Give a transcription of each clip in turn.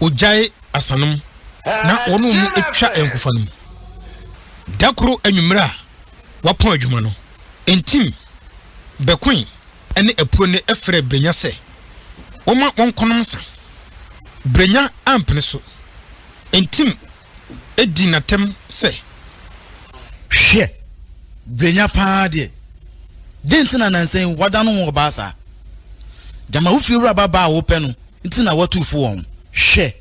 ogyae asanom na wɔn mu atwa nkofa no mu da koro anwummerɛ a wapɔn adwuma no ntim bɛkoe ne apuo no frɛ brenya sɛ wɔma wɔnkɔnom nsa brenya ampene so ntim di no atɛm sɛ, Hwɛ! Brɛnya paa deɛ, dɛn nti na nnansa yi woadan wo ho ɔbaa saa? Gyama wo fiewura babaa a wopɛ no nti na woatu fo wɔ ho. Hwɛ!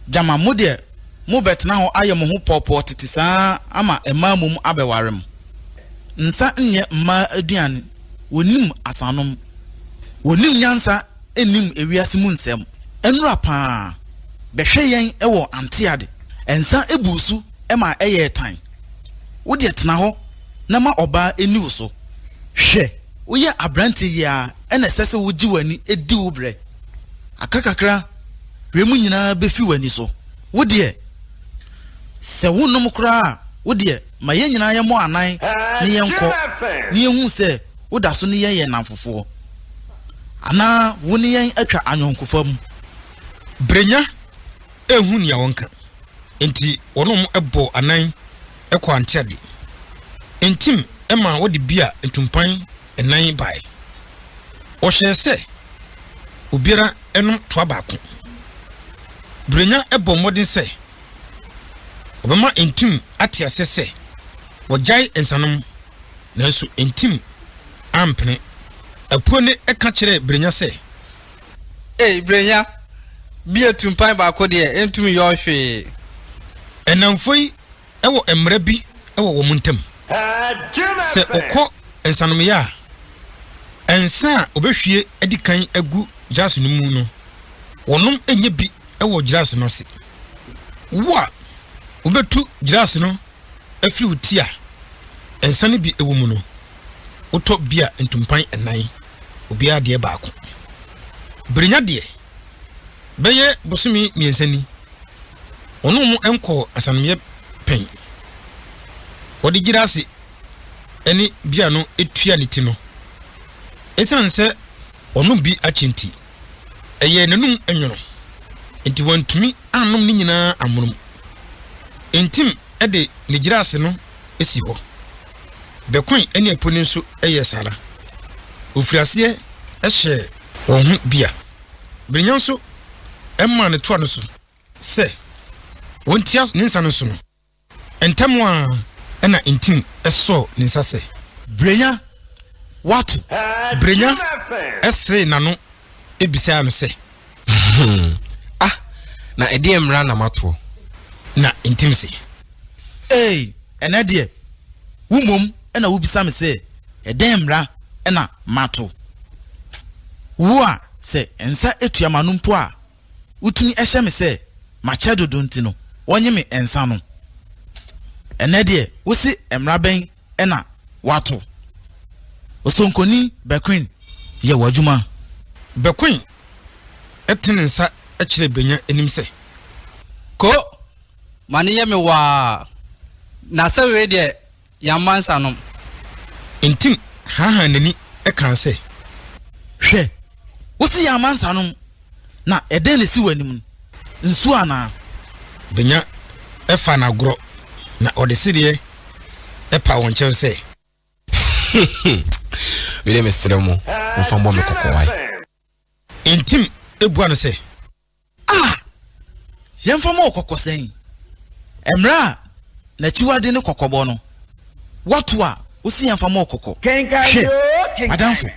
Gyama mo deɛ mobɛtena hɔ ayɛ mo ho pɔɔpɔɔ tete saa ama mmaa mmom abɛware mo. Nsa nyɛ mmaa aduane, wɔnnim asanom. Wɔnnim nyansa. nnim ewiase mu nsɛm. Nnora paa bɛhwɛ yɛn wɔ Anteade. Nsa buu so ma ɛyɛɛ tan. Wo deɛ tena hɔ na ma ɔbaa nni wo so. Hwɛ, woyɛ aberanteɛ yi ara na ɛsɛ sɛ wogye w'ani di wo berɛ. Aka kakra wiem nyinaa bɛfi w'ani so. Wo deɛ, sɛ wonnom koraa a, wo deɛ ma yɛn nyinaa yɛmmɔ anan na yɛnkɔ na yɛnhu sɛ woda so ne yɛn yɛ nnamfofoɔ. anaa wo ne yɛn atwa ayɔnkofa mu. Brenya anhu nea wɔnka, enti wɔnom bɔɔ anan kɔɔ Antiade. Ntim maa wɔde bia ntumpan nnan bae. Wɔhyɛɛ sɛ obiara nnom toa baako. Brenya bɔɔ mmɔden sɛ Ɔbɛma ntim ate aseɛ sɛ wɔgyae nsanom, nanso ntim ampene. Apuo no ka kyerɛɛ Brenya sɛ. Ei, Brenya, bi a tumpan baako deɛ ɛntumi yɔɔ hwee. Nnamfo yi wɔ mmara bi wɔ wɔn ntam. Sɛ wɔkɔ nsanomyɛ a, nsa a wɔbɛhwie adi kan agu jars no mu no, wɔnom nyɛ bi wɔ gyeraase no ase. Wo a wobɛtu gyeraase no afiri wo ti a nsa no bi wɔ mu no, wotɔ bia ntumpan nnan, obiara deɛ baako. Birinya deɛ, bɛyɛ bosome mmiɛnsa ni, ɔne wɔn nkɔɔ asanomyɛ pɛn. Wɔde gyeraase ne bia no tua ne ti no. Ɛsiane sɛ ɔnom bi akyɛ nti, ɛyɛɛ n'anom nwono, enti wantumi annom ne nyinaa amono mu. Ntim de ne gyiraase no si hɔ. Bɛkoe ne apuni nso yɛɛ saa ara. Ɔfirii aseɛ hyɛɛ wɔn ho bia. Birinya nso maa ne toa no so sɛ wɔntia ne nsa no so no. Ntɛm ara na Ntim sɔɔ ne nsa sɛ. Brenya, woato? Brenya seree n'ano bisaa no sɛ. Hmm, ah, na ɛdeɛ mmara na matoɔ? Na Ntim se. Ee, ɛnɛ deɛ, wo mmom na wobisa me sɛ ɛdɛn mmara na mato? Wo a sɛ nsa atua m'ano mpo a. wotumi hyɛ me sɛ makyɛ dodo nti no wɔnye me nsa no. Ɛnnɛ deɛ wose mmara bɛn na wɔato? Osonkoni Bequin, yɛ w'adwuma. Bequin tene ne nsa kyerɛɛ Benya anim sɛ, Ko! Ma no nyɛ me waa. Na sɛ wei deɛ Yɛamma nsanom. Ntim haahaa n'ani kaa sɛ, Hwɛ! Wose yɛamma nsanom, na ɛdɛn na esi w'anim no? Nsu anaa? Benya faa no agorɔ, na ɔde sedeɛ paa wɔn kyɛw sɛ. Wei deɛ mesrɛ mo, momfa mmɔ me kɔkɔ wae. Ntim bua no sɛ, A! Yɛmfa mmɔ wo kɔkɔ sɛn? Mmerɛ a n'akyiwade ne kɔkɔbɔ no, woato a wose yɛmfa mmɔ wo kɔkɔ? Hwɛ, m'adamfo,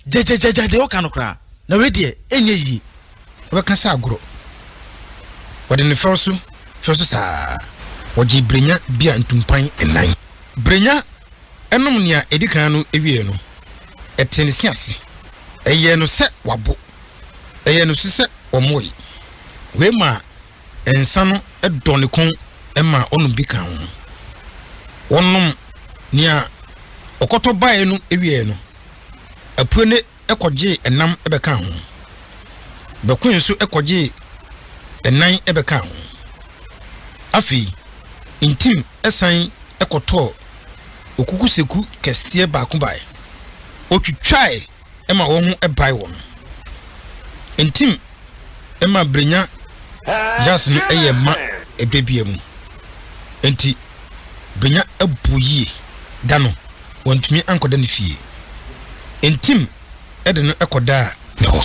gyagyagya deɛ woka no koraa, na wei deɛ ɛnyɛ yie. Wobɛka sɛ agorɔ. Wɔde no fɛw so fɛw so saa ara, wɔgyee berɛnya bi a ntumpan nnan. Brenya nom nea edi kan no wiei no, ɛtee ne se ase. Ɛyɛɛ no sɛ wabo. Ɛyɛɛ no nso sɛ ɔmoe. Wei maa nsa no dɔ ne kɔn maa ɔnom bi kaa ho. Wɔnom nea ɔkɔtɔ bae no wiei no, Apuene kɔgyee ɛnam bɛkaa ho. Bɛkoe nso kɔgyee ɛnan bɛkaa ho. Afei, ntim san kɔtɔɔ okukuseku kɛseɛ baako bae. Ɔtwitwae ma wɔn ho bae wɔn. Ntim ma Brenya Yas no yɛɛ ma ɛbɛ bia mu. Nti Brenya buu yie. Da no, wantumi ankɔda ne fie. Ntim de no kɔdaa ne hɔ.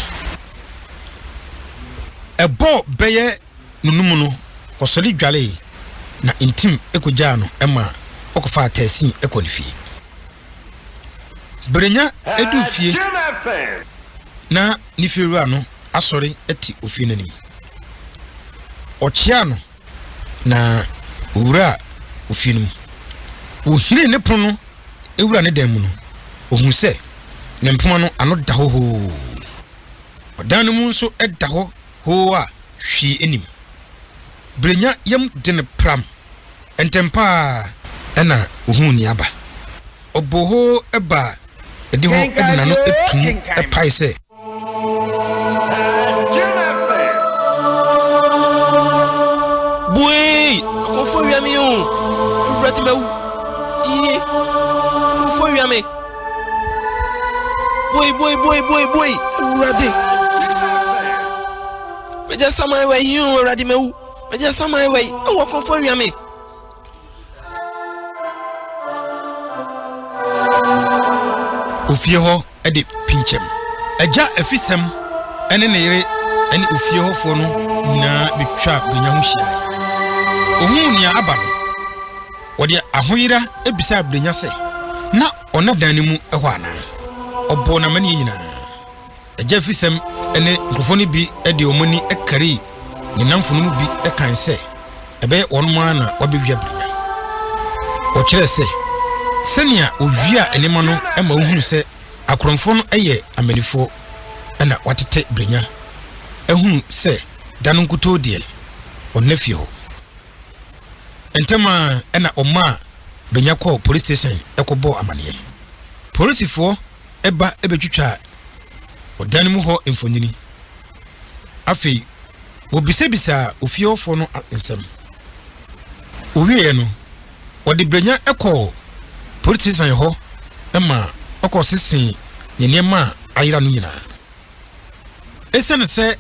Ɛbɔɔ bɛyɛ. no no mu no, ɔsɔre dwaree, na ntim kogyaa no ma ɔkɔfaa taxi kɔɔ ne fie. Bere nya duu fie no, na ne fiewura no asɔre te ofie no anim. Ɔkyeaa no, na owuraa ofie no mu. Wohiree ne pono no wura ne dan mu no, ohuu sɛ ne mpoma no ano da hɔ hoo. Ɔdan no mu nso da hɔ hoo a hwee nnim. Brenya yam de no pram. Ntɛm pa ara na ohuu nea aba. Ɔbɔɔ hoo baa adihɔ de n'ano to mu pae sɛ. Bue! Akorɔmfoɔ awia me oo! Awurade mawu! Yie! Akorɔmfoɔ awia me! Boy, boy, boy, boy, boy, Awurade. Mɛgya saman wɔ yi o, Awurade mɛwu. Mɛgya saman wɔ yi, ɛwɔ kɔnfɔ wia me. Ofie hɔ de pinkyɛm. Agya afisɛm ne ne yere ne ofie hɔfoɔ no nyinaa betwa benya ho hyiae. Ohun nea aba no. Ɔde ahoyera bisaa Brenya sɛ na ɔnna dan no mu hɔ anaa. Ɔbɔɔ no amanneɛ nyinaa. Agya afisɛm ne nkurɔfoɔ no bi de wɔn ani karii ne nnamfo no mu bi kae sɛ ɛbɛyɛ wɔnom ara na wɔabɛwia Brenya. Ɔkyerɛɛ sɛ sɛnea wɔwiaa nneɛma no ma wohunu sɛ akorɔmfoɔ no yɛ amannifoɔ na wɔatete Brenya ahunu sɛ da no nkutoo deɛ ɔnna fie hɔ. Ntɛm ara na wɔmaa Benya kɔɔ polis station kɔbɔɔ amanneɛ. Polisifoɔ ba bɛtwitwaa ɔdan mu hɔ mfonini. Afei, wɔbisabisaa ofie hɔfoɔ no nsɛm. Wɔwieeɛ no, wɔde Benya kɔɔ polis station hɔ ma wɔkɔsesee ne nneɛma a ayera no nyinaa. Esiane sɛ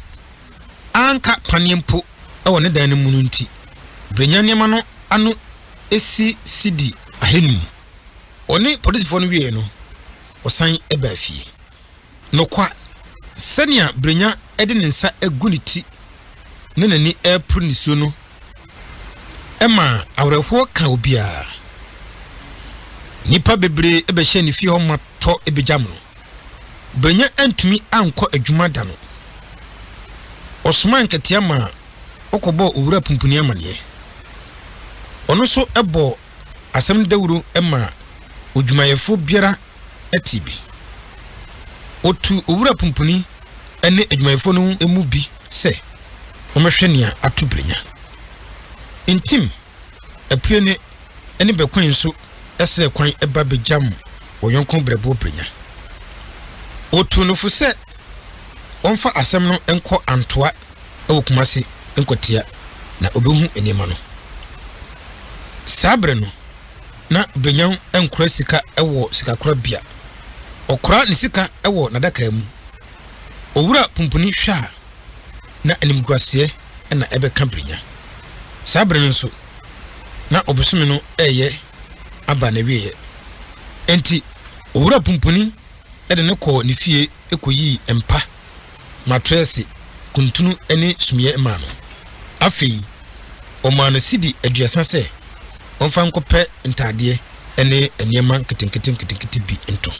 anka paneɛ mpo wɔ ne dan no mu no nti, Brenya nneɛma no ano si cedi ahanum. Ɔne polisifoɔ no wieeɛ no, ɔsan baa fie. Nokwa, sɛnea Brenya de ne nsa agu ne ti ne n'ani reporo nisuo no ma awerɛhoɔ ka obiara. Nnipa bebree bɛhyɛɛ ne fie hɔ ma tɔ begyam no. Banya antumi ankɔ adwuma da no, ɔsomaa nkatia maa wɔkɔbɔɔ Owura Pumpuni amanneɛ. Ɔno nso bɔɔ asɛm dawuro maa odwumayɛfoɔ biara tee bi. Ɔtuu Owura Pumpuni ne adwumayɛfoɔ no mu bi sɛ wɔmmɛhwɛ nea ato Brenya. Ntim! apuene ne bɛkwan nso srɛ kwan ba bɛgyam wɔn yɔnko berɛboɔ berɛnya. Wɔtuu no fo sɛ wɔmfa asɛm no nkɔ Antoa wɔ Kumasi nkɔtia na ɔbɛhu nneɛma no. Saa berɛ no, na Berɛnya nkora sika wɔ sikakorabea. Ɔkora ne sika wɔ n'adaka mu. Owura Pumpuni hwɛ a, na animguaseɛ na ɛbɛka Brenya. Saa bere no nso, na ɔbosome no reyɛ aba n'awieeɛ. Enti, Owura Pumpuni de no kɔɔ ne fie kɔyii mpa, matrɛɛse, kuntunu ne sumiiɛ maa no. Afei, ɔmaa no sidi aduasa sɛ ɔmfa nkɔpɛ ntaadeɛ ne nneɛma nketenkete nketenkete bi ntɔ.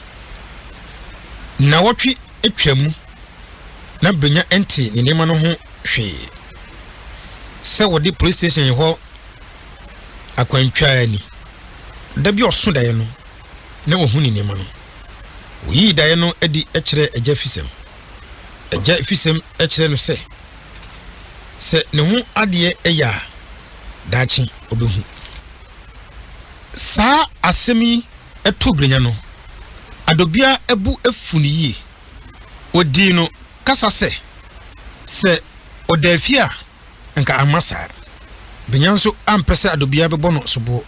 Nnawɔtwe twaa mu. na Benya nte ne nneɛma no ho hwee. Sɛ wɔde polis station hɔ akwantwaa ni. Da bi ɔso daeɛ no, na wahu ne nneɛma no. Oyii daeɛ no adi kyerɛɛ Agya Fisɛm. Agya Fisɛm kyerɛɛ no sɛ, sɛ ne ho adeɛ yɛ a, daakye ɔbɛhu. Saa asɛm yi too Benya no, adɔbea bu afu no yie. wɔdii no kasa sɛ, sɛ ɔda afie a, anka amma saa. Benya nso ampɛ sɛ Adobia bɛbɔ no soboɔ.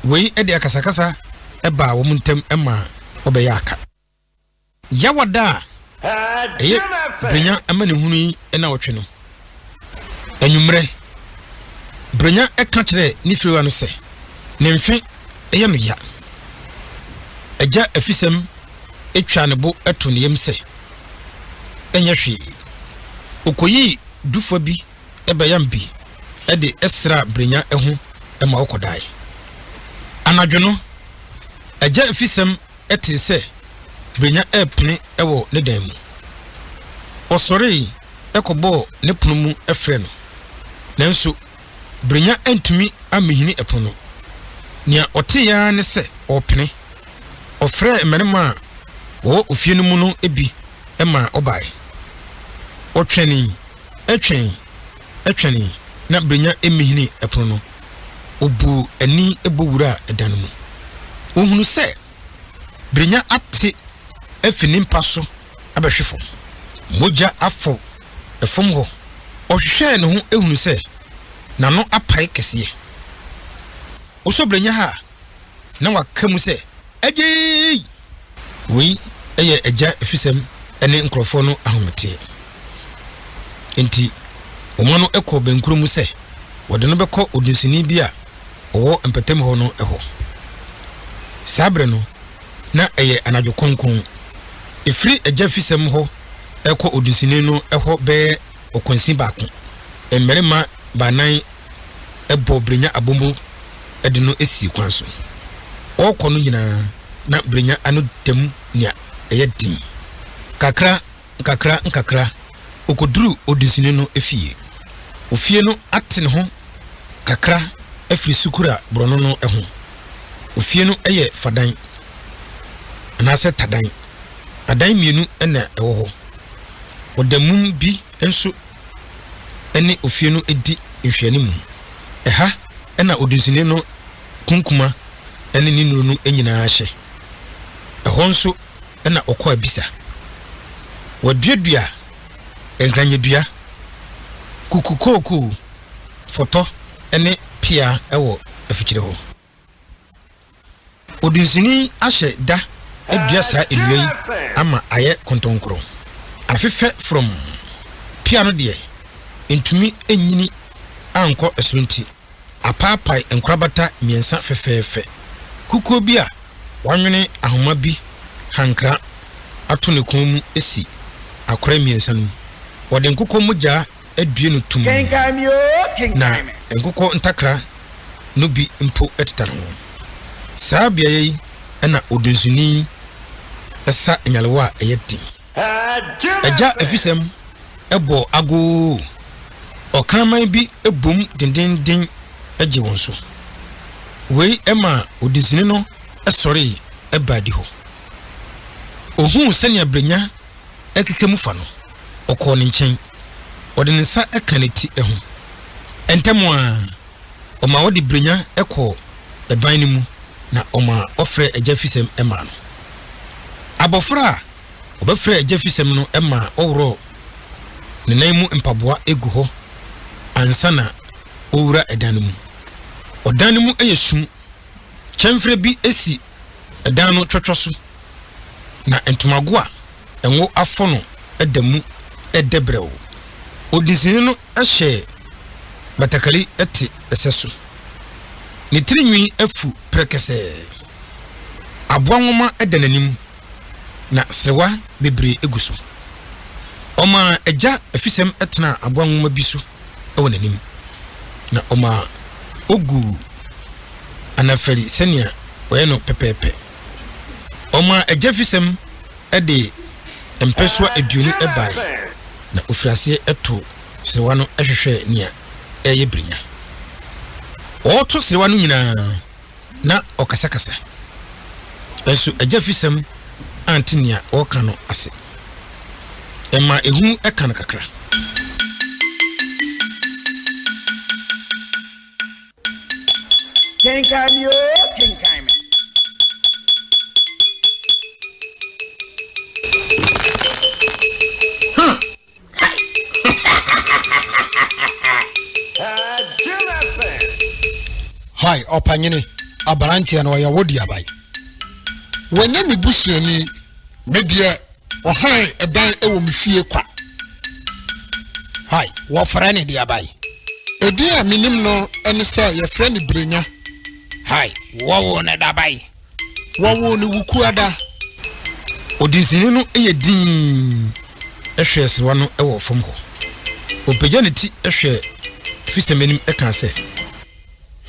Wei de akasakasa baa wɔn ntam maa wɔbɛyɛɛ aka. Yawada a ɛyɛ Benya amanehunu yi nnawɔtwe no, Anwummerɛ, Brenya ka kyerɛɛ ne firiwa no sɛ ne mfe yɛ no ya. Agya Afisɛm twaa ne bo too ne yam sɛ, Ɛnyɛ hwee. Ɔkɔyii dufoɔ bi bɛyam bi de sraa Brenya ho ma ɔkɔdae. Anadwo no, Agya Afisɛm tee sɛ Brenya repene wɔ ne dan mu. Ɔsɔree kɔbɔɔ ne pono mu frɛɛ no, nanso Brenya antumi amminhini pono no. Nea ɔtee ara ne sɛ ɔrepene. Ɔfrɛɛ mmarima a wɔwɔ ofie no mu no bi ma wɔbae. Ɔtwɛnee, twɛnee, twɛnee, na Brenya mminhinii pono no. Obuu ani bɔ wuraa ɛdan no mu. Ohunu sɛ Brenya ate afi ne mpa so abɛhwe fam. Mogya afɔw fam hɔ. Ɔhwehwɛɛ ne ho hunu sɛ n'ano apae kɛseɛ. Wosɔ Brenya ha a, na wɔaka mu sɛ, Agyei! Wei yɛ agya afisɛm ne nkurɔfoɔ no ahometeɛ. Enti wɔma no kɔ bɛnkorɔ mu sɛ wɔde no bɛkɔ odunsini bi a ɔwɔ mpɔtam hɔ no hɔ. Saa berɛ no, na ɛyɛ anadwo kronkron. Ɛfiri agya afisɛm hɔ rekɔ odunsini no hɔ bɛyɛ ɔkwansin baako, mmarima baanan bɔɔ Brenya abombo de no sii kwan so. Ɔrekɔ no nyinaa na Brenya ano da mu nea ɛyɛ den. Kakra nkakra nkakra okoduruu odinsini no fie. Ofie no ate ne ho kakra afiri sukura borɔno no ho. Ofie no yɛ fadan anaasɛ tadan. Adan mmienu na ɛwɔ hɔ. Ɔda mum bi nso ne ofie no di nhwɛanimu. Ɛha na odunsini no kunkuma ne ne nnuru no nyinaa hyɛ. Ɛhɔ nso na ɔkɔ abisa. Wɔaduadua nkranyɛdua, kukukookoo, fɔtɔ ne pea wɔ afikyire hɔ. Odunsini ahyɛ da adua saa nnua yi ama ayɛ kontonkoro. Afefɛ frɔmm. Pea no deɛ, entumi nnyini ankɔ soro nti, apaapae nkorabata mmiɛnsa fɛfɛɛfɛ. Kukuo bi a wɔanwene ahoma bi hankra ato ne kɔn mu si akora mmiɛnsa no mu. Wɔde nkokɔ mogya adue no tumm, na nkokɔ ntakra no bi mpo tetare ho. Saa beaeɛ yi na odunsini sa nyalewa a ɛyɛ den. Agya afisɛm bɔ agoo, ɔkraman bi bom dendeenden gye wɔn so. Wei maa odunsini no sɔree baa adihɔ. Ɔhuu sɛnea Brenya keka mu fa no. ɔkɔɔ ne nkyɛn. Ɔde ne nsa kaa ne ti ho. Ntɛm ara, ɔmaa ɔde brɛnya kɔɔ ban no mu na ɔmaa ɔfrɛɛ Agya Fisɛm maa no. Abɔfra a ɔbɛfrɛɛ Agya Fisɛm no maa ɔworɔɔ ne nan mu mpaboa gu hɔ ansa na ɔrewura dan no mu. Ɔdan no mu yɛ sum. Kyɛmfrɛ bi si dan no twɔtwɔ so, na ntomago a ngo afɔ no da mu dɛ brɛoo. Odinsini no hyɛ batakari te sɛ so. Ne tiri nwi afu prɛkɛsɛɛ. Aboa nwoma da n'anim, na serewa bebree gu so. Ɔmaa gya afisɛm tenaa aboa nwoma bi so. wɔ n'anim, na ɔmaa oguu anafari sɛnea wɔyɛ no pɛpɛɛpɛ. Ɔmaa agyafisɛm de mpɛsoa aduonu bae, na ofii aseɛ too serewa no hwehwɛɛ nea ɛreyɛ birinya. Ɔreto serewa no nyinaa, Ná ɔkasakasa, nanso agyafisɛm ante nea ɔreka no ase. Ɛma ehu ka no kakra. Kenkan me oo, kenkan me. Hi, ɔpanyini, aberanteɛ no ɔyɛ wo deɛ ban. Wɔnyɛ me busuani. Me deɛ ɔhan ɛdan ɛwɔ me fie kwa. Hi, wɔfrɛ ne deɛ ban. Edin a menim no ɛne sɛ yɛfrɛ ne Brenya. Hi, wɔwo ne da ban. Wɔwoo no Wukuada. Odinsini no yɛ dinn hwɛɛ serewa no wɔ fam hɔ. Opagyaa ne ti hwɛɛ Fisam anim kaa sɛ,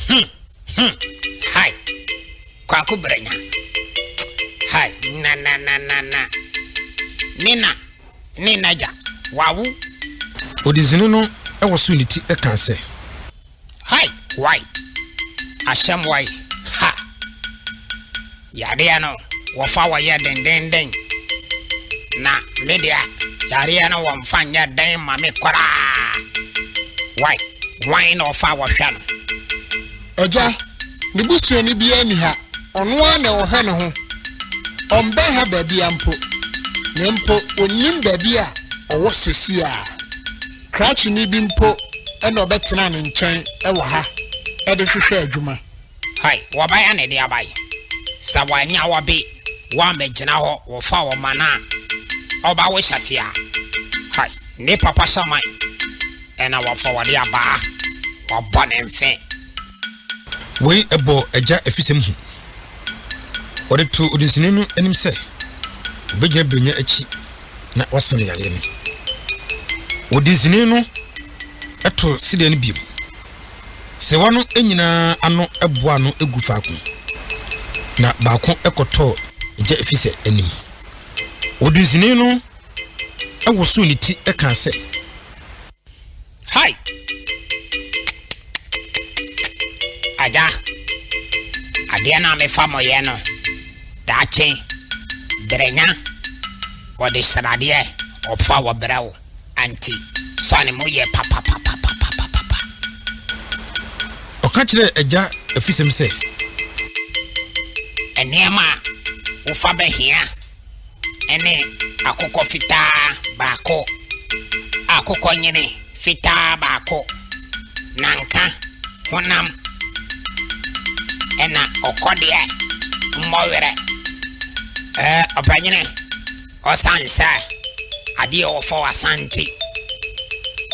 Hum! Hum! Hai! Kwaku Branya! Hai! Na, na, na, na, na! Ne na, ne n'agya, wawo! Odinsini no wosow ne ti kaa sɛ, Hai! Wai! Asɛm wai! Ha! Yadeɛ no wɔfa wɔ yɛ dendenden na me deɛ yareɛ no wɔmfa nyɛ den ma me koraa. Wai! Wan na ɔfa wɔ hwɛ no? Agya, ne busuani biara nni ha, ɔno ara na ɔhwɛ ne ho. Ɔmmɛn ha baabiara mpo, na mpo ɔnnim baabi a ɔwɔ seesei ara. Krakyeni bi mpo na ɔbɛtenaa ne nkyɛn wɔ ha de hwehwɛɛ adwuma. Hai, wɔbɛyɛ ne dea bai. Sɛ wɔannya wɔ bi wɔammɛgyina hɔ wɔ fa wɔ ma no a, ɔba wo hyɛse a, hai, ne papa hyɛ man na wɔfa wɔde abaa, wɔbɔ ne mfe. Wei bɔ agya afisɛm hu. Wɔde too odinsini no anim sɛ, obegyina Brenya akyi. na wɔasa no yareɛ no. Wɔde nsini no to sedeɛ no bio. Serewa no nyinaa ano boa ano gu faako, na baako kɔtɔɔ gya ɛfiri sɛ anim. Wɔde nsini no wosoo ne ti kaa sɛ, Hi! Agya, adeɛ no a mefa mo yɛ no, daakye, berɛnya, wɔde sradeɛ ɔfa wɔ brɛ wo, anti fa ne mu yɛ papapapapapapa. Ɔka kyerɛɛ agya afisɛm sɛ. Nneɛma a wofa bɛhia. ne akokɔ fitaa baako, akokɔnyene fitaa baako, nanka honam na ɔkɔdeɛ mmɔ werɛ. Ɛɛ, ɔpanyini, ɔsan sɛ adeɛ a wɔfa w'asan nti,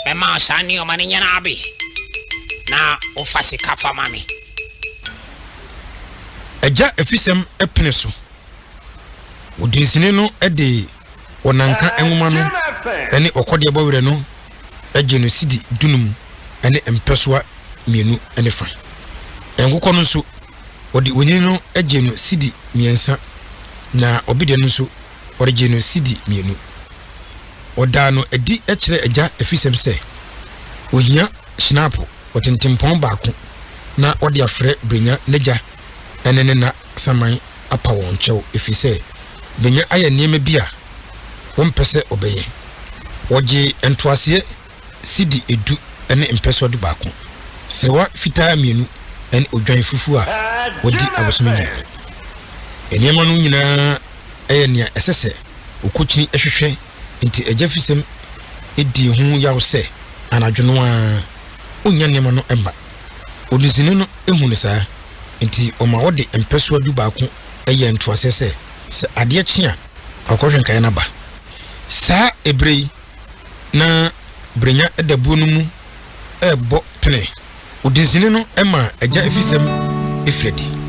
mɛma wo saa nneɛma no nyinaa bi na wofa sika fa ma me. Agya afisɛm pene so Ɔdunsini no de Wɔnanka nwoma no ne Ɔkɔdeɛ Bɔ Werɛ no gyee no sidi dunum ne mpɛsoa mmienu ne fa. Nkokɔ no nso, wɔde onini no gyee no sidi mmiɛnsa, na ɔbedeɛ no nso, wɔde gyee no sidi mmienu. Wɔdaa no adi kyerɛɛ agya afisɛm sɛ, Ɔhia hyenaapo ɔtentempɔn baako na ɔde afrɛ Brenya n'agya. ɛne ne nna saman apa wɔn kyɛw efiri sɛ Benya ayɛ nneɛma bi a wɔmpɛ sɛ ɔbɛyɛ. Wɔgyee ntoaseɛ sidi edu ne mpɛsoa du baako, serewa fitaa mmienu ne odwan fufuo a wɔadi abosome mmienu. Nneɛma no nyinaa yɛ nea ɛsɛ sɛ okokyini hwehwɛ nti agyafisɛm dii ho yaw sɛ anadwo no ara onnya nneɛma no mma. Odinsini no hu no saa, enti ɔma wɔde mpɛsoa du baako yɛ ntoaseɛ sɛ, sɛ adeɛ kye a, ɔkɔhwɛ nkaeɛ no aba. Saa ɛberɛ yi, na Brenya da buo no mu rebɔ pene. Odinsini no maa agya afisɛm firi adi.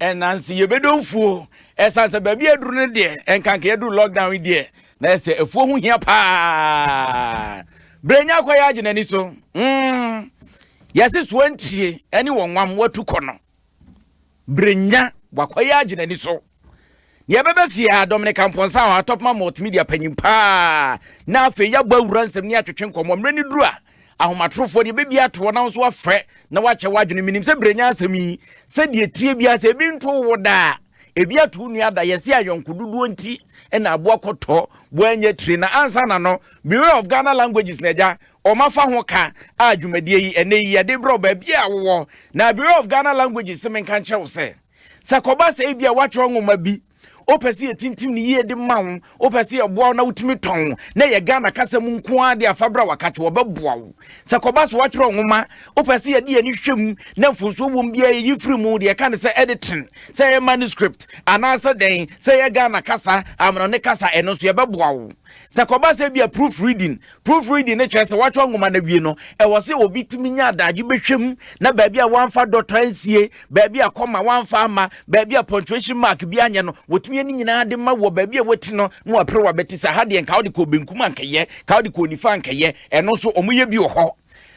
Nanso yɛbɛdɔ mfuo. Ɛsiane sɛ baabi a aduru no deɛ, ɛnka nka yɛduru lockdown yi deɛ, na yɛ sɛ afuo ho hia paa. Brɛnya kɔ yɛ agye n'ani so. Mm. Yɛse soa ntwie ɛne wɔnwam watu kɔ no. Brɛnya wakɔ yɛ agye n'ani so. Nea ɛbɛba fie a, Dominic Amponsah, Atɔpma Multimedia panyin paa, na afei yɛabɔ awura nsɛm ne atwetwe nkɔmmɔ. Mmerɛ no duru a, ahomatorofoɔ deɛ bɛbi ato hɔ na nso wafrɛ na wakyɛ w'adwene. Menim sɛ berɛ nya asɛm yi, sɛdeɛ tire biara sɛ ebi nto wo daa, ebi ato wo nua da, yɛse ayɔnko dodoɔ nti na aboa kɔtɔ boa nyɛ tire. Na ansa na no, Bureau of Ghana Languages na agya ɔma fa ho ka a dwumadie yi ɛnɛ yi yɛde brɛ wo baabi a wowɔ. Na Bureau of Ghana Languages se menka nkyerɛ wo sɛ. Sɛ ɛkɔba sɛ ebi a woatwerɛ nwoma bi, wopɛ sɛ yɛtintim no yie de ma wo, wopɛ sɛ yɛboa wo na wotumi tɔn, na ɛyɛ Ghana kasa mu nko ara de afa berɛ a wɔaka kyɛ wɔbɛboa wo. Sɛ ɛkɔba sɛ woatwerɛ nwoma, wopɛ sɛ yɛde yɛn ani hwɛ mu na mfomsoɔ wɔ mu biara yɛyi firi mu, deɛ yɛka ne sɛ editing, sɛ ɛyɛ manuscript anaasɛ dɛn, sɛ ɛyɛ Ghana kasa, amanɔne kasa, ɛno nso yɛbɛboa wo. Sɛ ɛkɔba sɛ ebi a proof reading, Proofreading no kyerɛ sɛ wɔatwerɛ nwoma no awie no, ɛwɔ sɛ obi tumi nya adagye bɛhwɛ mu na baabi a wɔamfa dɔtɔ ansie, baabi a kɔma wɔamfa amma, baabi a punctuation mark bi anyɛ no, wɔtumi yɛ ne nyinaa de ma wɔ baabi a wɔati no na wɔapere wɔabɛte sɛ ha deɛ nka wode kɔɔ benkum a anka yɛ, nka wode kɔɔ nifa anka yɛ, ɛno nso wɔyɛ bi wɔ hɔ.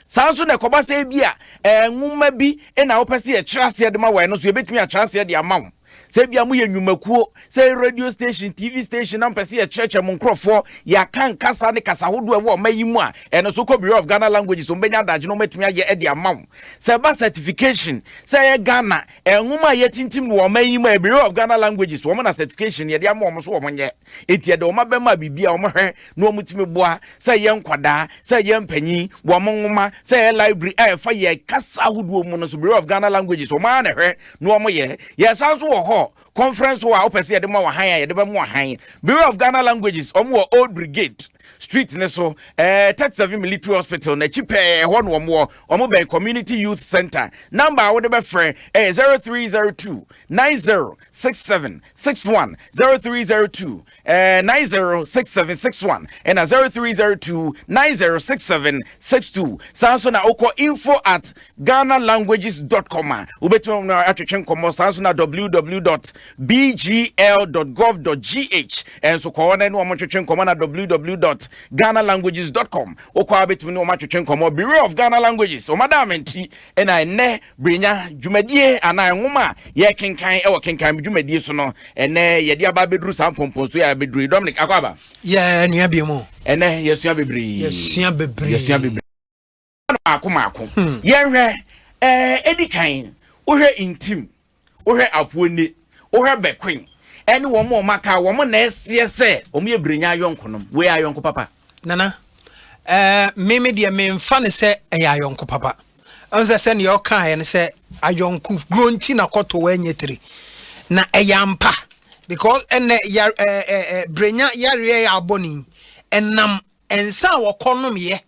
Saa nso na ɛkɔba sɛ ebi a eh, nwoma bi na wopɛ sɛ yɛkyerɛ aseɛ de ma wɔ ɛno nso yɛbɛtumi akyerɛ aseɛ de ama wo. Sɛ ebia moyɛ nnwumakuo, sɛ ɛyɛ radio station, TV station na mopɛ sɛ yɛkyerɛkyerɛ mo nkorɔfoɔ, yɛaka nkasa ne kasa hodoɔ ɛwɔ ɔma yi mu a, ɛno nso kɔ Bureau of Ghana Languages, wɔn bɛnya adagye na wɔatumi ayɛ de ama wo. Sɛ ɛba certification, sɛ ɛyɛ Ghana, nwoma a yɛtintim no wɔ ɔma yi mu a, ɛyɛ Bureau of Ghana Languages, wɔn na certification yɛde ama wɔn nso wɔn nyɛ. Enti ɛde wɔn abɛma biribi a wɔhwɛ na wɔtumi boa, sɛ ɛyɛ nkwadaa, sɛ ɛyɛ mpanyin, wɔn nwoma, sɛ ɛyɛ library a ɛfa yɛn kasa ahodoɔ mu no so, Bureau of Ghana Languages, wɔn ara na ɛhwɛ na wɔyɛ. Yɛsan nso wɔ hɔ, conference hɔ a wopɛ sɛ yɛde ma wɔ han a yɛde bɛmo han. Bureau of Ghana Languages, wɔn wɔ Old Brigade street ne so, ɛɛ eh, 37 military hospital n'akyi pɛɛ ɛhɔ na wɔn wɔ, wɔn bɛn community youth center. Number a wode bɛfrɛ ɛyɛ 0302 90 six seven six one zero three zero two eh, nine zero six seven six one ɛna eh, zero three zero two nine zero six seven six two saa nso na wokɔ info at ghana languages dot com a wobɛtumi wɔn atwetwe nkɔmmɔ saa nso na www dot bgl dot gov dot gh ɛnso kɔ hɔ na ɛne wɔn twetwe nkɔmmɔ na www dot ghana languages dot com wokɔ a wobɛtumi ne wɔn atwetwe nkɔmmɔ bureau of ghana languages wɔn adaamenti ɛna ɛnɛ Brenya, dwumadie anaa nwoma a yɛkenkan wɔ kenkan dwumadie so no, ɛnɛ yɛde aba abɛduru saa mpɔmpɔnsuo a abɛduru yi. Dominic, akɔ aba? Yɛ nua bi mu. Ɛnɛ yɛsua bebree. Yɛsua bebree. Yɛsua bebree. Maako maako. Hmm. Yɛnhwɛ, ɛɛ, ɛdi kan, wohwɛ ntim, wohwɛ apuoni, wohwɛ bɛkoin, ɛne wɔn a wɔn aka, wɔn na ɛseɛ sɛ wɔn yɛ Brenya ayɔnko nom. Wei ayɔnko papa. Nana, ɛɛ, mimi deɛ memfa ne sɛ ɛyɛ ayɔnko papa. Ɛhu sɛ sɛnea ɔkaeɛ no sɛ ayɔnko guro nti na kɔtɔ wɔ ɛnyɛ tiri na ɛyɛ ampa because ɛnɛ yar ɛɛ ɛɛ brenya yareɛ yɛ abɔ ne ɛnam nsa a wɔkɔ nomyɛ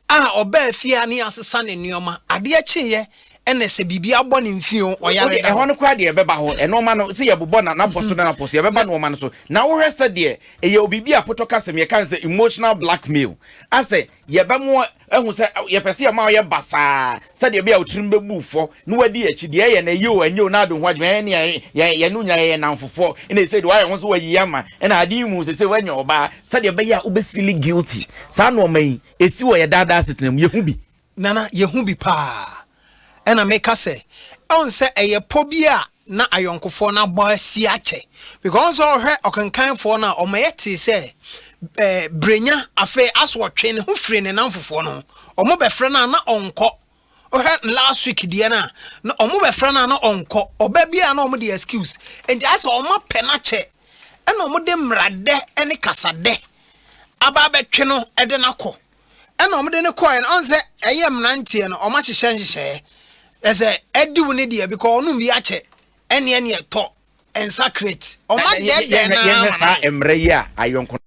a ɔbaa fie a ne asesa ne nneɛma adeɛ kyeeɛ ɛna sɛ biribi abɔ ne mfie o ɔyare ɛhɔ no koraa deɛ ɛbɛba hɔ ɛnoɔma no sɛ yɛbobɔ na napɔ so na napɔ so yɛbɛba nnoɔma no so na wohwɛ sɛ deɛ ɛyɛ obibi a potɔ kasɛm yɛka sɛ emotional blackmail asɛ Yɛbɛ mo ahu sɛ yɛpɛ sɛ yɛma ɔyɛ basaa sɛdeɛ ɛbɛyɛ a otirim bɛbu fɔ na wadi akyi deɛ ɛyɛ na ɛyɛ o ɛnyɛ o na ado ho adwuma ɛne yɛ yɛ yɛne wo nyinaa yɛyɛ namfofoɔ ɛna ɛsɛ deɛ wayɛ ho so wayi ama ɛna ade yi mu sɛ sɛ wanya ɔbaa sɛdeɛ ɛbɛyɛ a wobɛfili guilty saa nnoɔma yi ɛsi wɔ yɛ daadaa asetena mu yɛhu bi Nana, yɛhu bi paa. Ɛna meka sɛ ɛwon sɛ ɛyɛ pɔ bi a na ayɔnkofoɔ no abɔ asi akyɛ because ɔn sɛ ɔhwɛ ɔkenkanfoɔ no a ɔma yɛ tee sɛ ɛɛ brenya afei as ɔtwe ne ho firi ne namfofoɔ no ho ɔmo bɛ frɛ no a na ɔnkɔ wohwɛ last week deɛ no a na ɔmo bɛ frɛ no a na ɔnkɔ ɔba bi a na ɔmo de excuse nti ayɛ sɛ ɔma pɛ no akyɛ ɛna ɔmo de mmradɛ ɛne kasadɛ aba abɛtwe no ɛde no akɔ. ɛna wɔde no kɔɛ no ɔnsɛ ɛyɛ mmeranteɛ no wɔn ahyehyɛ nhyehyɛɛ ɛsɛ ɛdi wo ne deɛ bikɔ ɔnom bi akyɛ ɛne ɛne ɛtɔ nsa crate wɔn adɛdɛ na yɛhwɛ saa mmerɛ yi a ayɔnko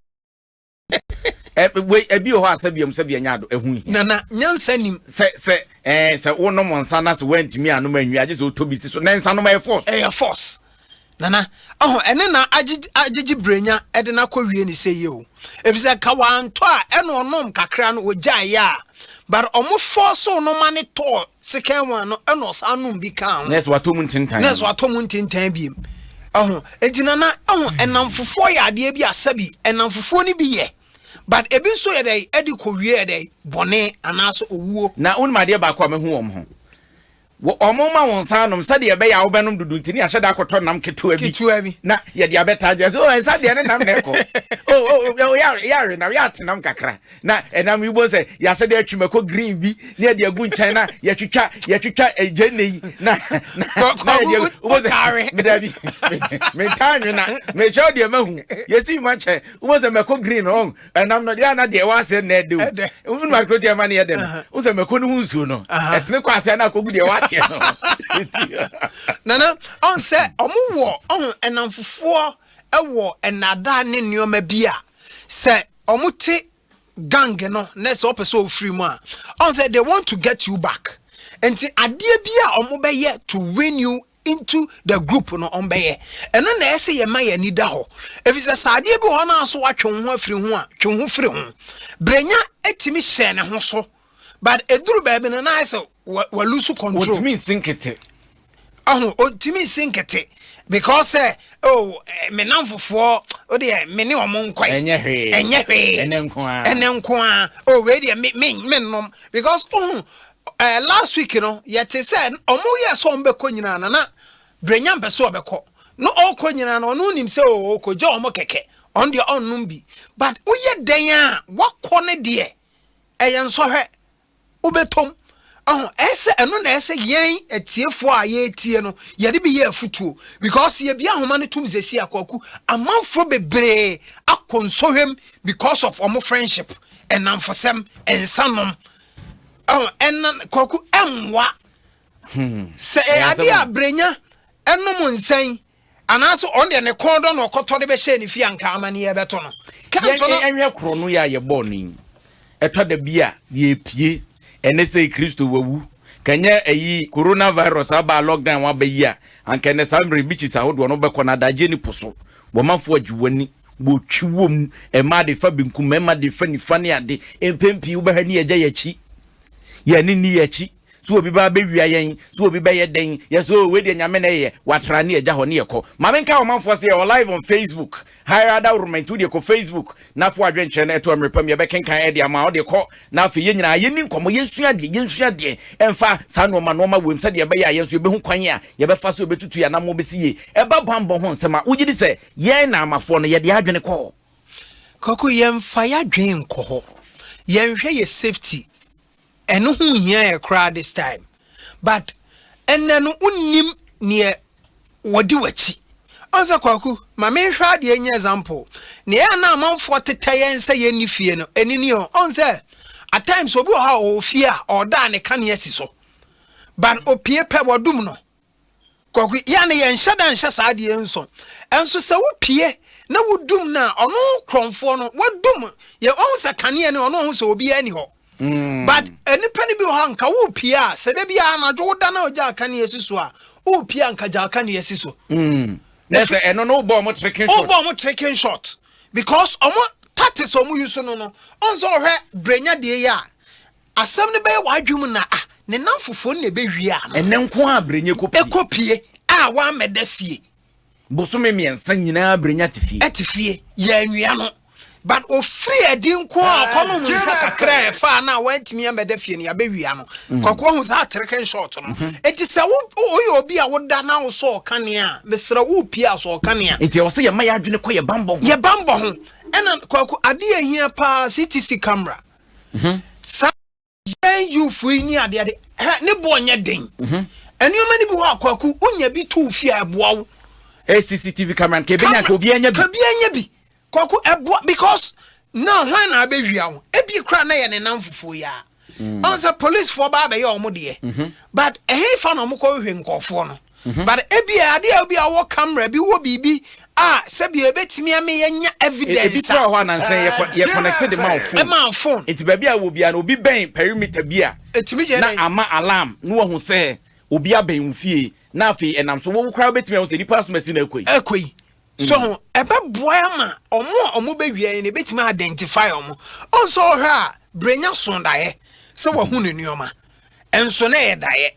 wei ebi wɔ hɔ a sɛbi ɛmu sɛbi ɛnya do ɛho hia nana nyansa nim sɛ sɛ ɛɛ sɛ wonom nsa na sɛ wɔntumi anom anwi agye sɛ ɔtɔ bi si so na nsa nom ɛyɛ force ɛyɛ force Nana, ɔhɔ, ɛne na agyegye brenya ɛde na kɔ wie ne sɛ yɛ o. Efisɛ ka wantɔ a ɛna ɔnom kakra no ɔgyae yɛ a. But ɔmo fɔɔso no ma ne tɔɔ second one no ɛna ɔsan nom bi kaa ho. Nurse watɔ mu ntentan. Nurse watɔ mu ntentan biem. Ɔho, enti Nana, ɔho, ɛnamfofoɔ yɛ adeɛ bi a sɛbi ɛnamfofoɔ no bi yɛ. But ebi nso yɛ dɛn ɛde kɔ wie yɛ dɛn bɔne anaasɛ owuo. Na wonim adeɛ baako a mahu wɔn ho? Wɔmma wo nsa anom sɛdeɛ ɛbɛyɛ a wobɛnom dodo nti ne yɛahyɛ da akɔtɔ nam ketewa bi ketewa bi na yɛde abɛtaa gya so oh, ɛnsa deɛ ne nam na ɛkɔ oh, oh, oh, yɛawe nam yɛate nam kakra na ɛnam yi bɔ sɛ yɛahyɛ da atwi mako green bi ne yɛde agu nkyɛn na yɛtwitwa yɛtwitwa gyanne yi na dabi mentaa nwena mekyerɛ wo deɛ mahu yɛsi ma kyɛ wobɔ sɛ mako green ɔn ɛnam no deɛ na deɛ ɛwɔ aseɛ na ɛde o wofunu ma kuro deɛ ma no yɛ dɛ no wo sɛ mako no ho nsuo no ɛtene kɔ aseɛ na akɔgu deɛ ɛwɔ aseɛ no nana ɔn sɛ ɔmo wɔ ɔho ɛnam fofoɔ ɛwɔ ɛnada ne nneɛma bi a sɛ ɔmo te gang no na sɛ ɔpɛ sɛ ɔfiri mu a ɔn sɛ they want to get you back nti adeɛ bi a ɔmo bɛyɛ to win you into the group no ɔmbɛyɛ ɛno na ɛsɛ yɛma yɛn ani da hɔ efisɛ sɛ adeɛ bi hɔ no a so watwe wo ho afiri ho a twe ho firi ho brenya etimi hyɛ ne ho so but eduru baabi no na ayɛ sɛ walusu control otimi nsi nkete ɔho otimi nsi nkete because sɛ eh, o oh, eh, me namfofoɔ o deɛ me ne ɔmo nkɔe ɛnyɛ hwee ɛnyɛ hwee ɛnɛ nko ara ɛnɛ nko ara o oh, wei deɛ me me me nom because ɔho Eh last week no yɛte sɛ ɔmo yɛ sɛ ɔmo bɛkɔ nyinaa na na Brenya mpɛ sɛ ɔbɛkɔ na ɔkɔ nyinaa no ɔno nim sɛ oo ɔkɔ gya ɔmo kɛkɛ ɔno deɛ ɔnnom bi but woyɛ dɛn a wakɔ ne deɛ ɛyɛ nsɔhwɛ wobɛtɔm ɔho ɛsɛ ɛno na ɛsɛ yɛn atiefoɔ a yɛretie no yɛde bi yɛ afutuo because yɛbi ahoma no tom zesi akwaku amanfoɔ bebree akɔ nsɔhwɛm because of ɔmo friendship ɛnamfosɛm nsanom Oh, ɛna kwaku ɛmmoa. Hmm. Sɛ ɛyɛ adeɛ a brenya ɛnom nsɛn anaasɛ ɔn deɛ ne kɔn dɔ na ɔkɔtɔ de bɛhyɛ ne fie anka amaneɛ bɛto no. Kɛntɔ no. Ɛnhwɛ korɔ no yɛ a yɛbɔɔ no yi. Ɛtɔ da bi a yɛpie ɛne sɛ Kristo wawu. Kanyɛ ɛyi coronavirus aba lockdown aba yi a anka ɛnɛ saa mmerɛ bikyis ahodoɔ no bɛkɔ no adagye ne po so. Bɔmafoɔ agye w'ani. Wɔtwi wɔ mu, mmaa de fa benkum, mmarima de fa nifa ne ade. Mpɛn pii wobɛha ni agya yɛn akyi. Yɛn ani nni yɛn akyi. Sɛ obi ba bɛwia yɛn, sɛ obi bɛyɛ dɛn, yɛse oh wei deɛ Nyame na ɛyɛ, watra ne agya hɔ ne yɛkɔ. Ma me nkae ɔmanfoɔ sɛ yɛwɔ live on Facebook, hire ada ornament, wodeɛ kɔ Facebook na fa w'adwenkyerɛ no to mmerepam, yɛbɛkenkan de ama wo, wode kɔ na afei yɛn nyinaa yɛnni nkɔmmɔ, yɛnsua adeɛ, yɛnsua adeɛ ɛmfa saa nnoɔma nnoɔma wei mu sɛdeɛ ɛbɛyɛ a yɛn nso yɛbɛhu kwan a yɛbɛfa so yɛbɛtutu yɛn anammɔn bɛsi yie. Ɛba bammɔ ho nsɛm a, wogye di sɛ. Yɛn Naamafoɔ no, yɛde adwene kɔ hɔ. Kwaku, yɛmfa y'adwen nkɔ hɔ. Yɛnhwɛ yɛ safety. Ɛno ho nhia yɛ koraa this time. But ɛnnɛ no wonnim neɛ wɔdi w'akyi. Ɔn sɛ Kwaku, ma menhwɛ adeɛ nyɛ example. Neɛ ɛyɛ a na amanfoɔ tetɛ yɛn sɛ yɛnni fie no, ɛno ni ɔn. Ɔn sɛ at times obi wɔ hɔ a ɔwɔ fie a ɔda a ne kanea si so. But opie pɛ, wɔdum no. kɔkɔ yɛ ne yɛ nhyɛ da nhyɛ saa adeɛ nsɔ ɛnso sɛ wo pie na wo dum na ɔno korɔnfoɔ no wo dum yɛ ɔho sɛ kaneɛ ne ɔno ɔho sɛ obiara ni hɔ mm. but nipa no bi wɔ hɔ nka wo pie a sɛ da bi a anadwo wo da na ɔgya akaneɛ si so a wo pie a nka gya akaneɛ si so mm. na sɛ ɛno no wobɔ ɔmo trekin shot wobɔ ɔmo trekin shot because ɔmo tatis ɔmo yi so no no ɔnso ɔhwɛ brenya deɛ yi a Asɛm no bɛyɛ w'adwene mu na a, ne nnamfofoɔ no na ɛbɛwie ano. Ɛnnɛ nko ara Brenya kɔ pie. Kɔ pie a wammɛda fie. Bosome mmiɛnsa nyinaa Brenya te fie. Te fie, yɛannwia no. But ɔfiri adi nko ara ɔkɔnom nsa kakra a ɛfaa no a wantumi ammɛda fie no, yɛabɛwia no. Mm. Kwaku ahu saa atereken short no. Mhm. Enti sɛ woyɛ obi a woda na wo sɛ ɔkane a, mesrɛ wo pie a sɛ ɔkane a. Enti ɛwɔ sɛ yɛma yɛadwene kɔ yɛ bambɔ ho. Yɛ bambɔ ho. Ɛna kwaku adeɛ ahia paa CTC camera. mhm. saa yɛn yufo yi ni adeɛ de hɛ ne boɔ nyɛ den mhm. nneɛma no bi hɔ akwaku wonya bi to fie a ɛboa wo eh, cctv camera ka ɛbɛnya ka obi anya bi ka bi anya bi kwaku ɛboa because na hwan na abɛwia wo ebi kora na yɛ ne nam fufuo yi a mm. ɔn sɛ policefoɔ baa bɛyɛ ɔmo deɛ mhm. but ɛhe fa na ɔmo kɔ hwehwɛ nkɔɔfoɔ no Mhm. but ebia adeɛ a ebia wɔ camera bi wɔ biribi a sɛbi ebetumi ama yɛnya E- ebi evidence kura a hɔ a nansa yɛ kɔ- yɛ connected de ma wo phone ɛma wo phone nti baabi a wɔ biara no obi bɛn perimeter bi a etumi yɛ na dɛ ama alarm na wahu sɛ obi abɛn wo fie na afei ɛnam so wo koraa wobɛtumi ahu sɛ nipa asoma si na akɔ yi ɛkɔ yi so ho ɛbɛboa ama ɔmo a ɔmo bɛwia yɛ no ebetumi identify ɔmo ɔnso ɔhwɛ a brenya so daeɛ sɛ wahu ne nneɛma ɛnso na ɛyɛ daeɛ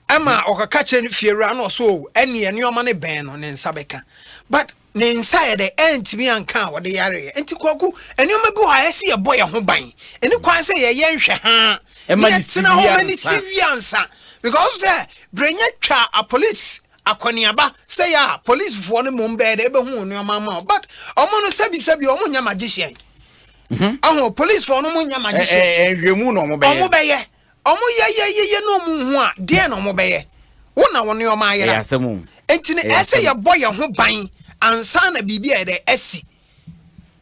Ɛma ɔkɔka kyerɛ ne fiewura na ɔsɛ o ɛneɛ nneɛma no bɛn no ne nsa bɛka but ne nsa yɛ dɛ ɛntumi anka a ɔde yareɛ nti kwaku nneɛma bi wɔ ha ɛsɛ yɛbɔ yɛn ho ban ɛni kwan sɛ yɛyɛ nhwɛ haa na yɛtena hɔ ma ne si wie ansa because sɛ berɛnya twa a police akɔneaba sɛ yɛ a policefoɔ no mmom bɛyɛ dɛ ɛbɛhu nneɛma ama wo but ɔmo no sɛbisɛbi ɔmo nyɛ magician ɔho policefoɔ no mo nyɛ magician ɛhwɛ mu na ɔmo bɛyɛ ɔmo bɛyɛ Ɔmo yɛ yɛ yɛ yɛ na ɔmo nhu a, deɛn na ɔmo bɛyɛ? Wo na wo nneɛma ayera. Ɛyɛ asɛm o. Enti no, Ɛyɛ ɛsɛ sɛ asɛm. yɛbɔ yɛn ho ban ansa na biribi ayɛ dɛ asi.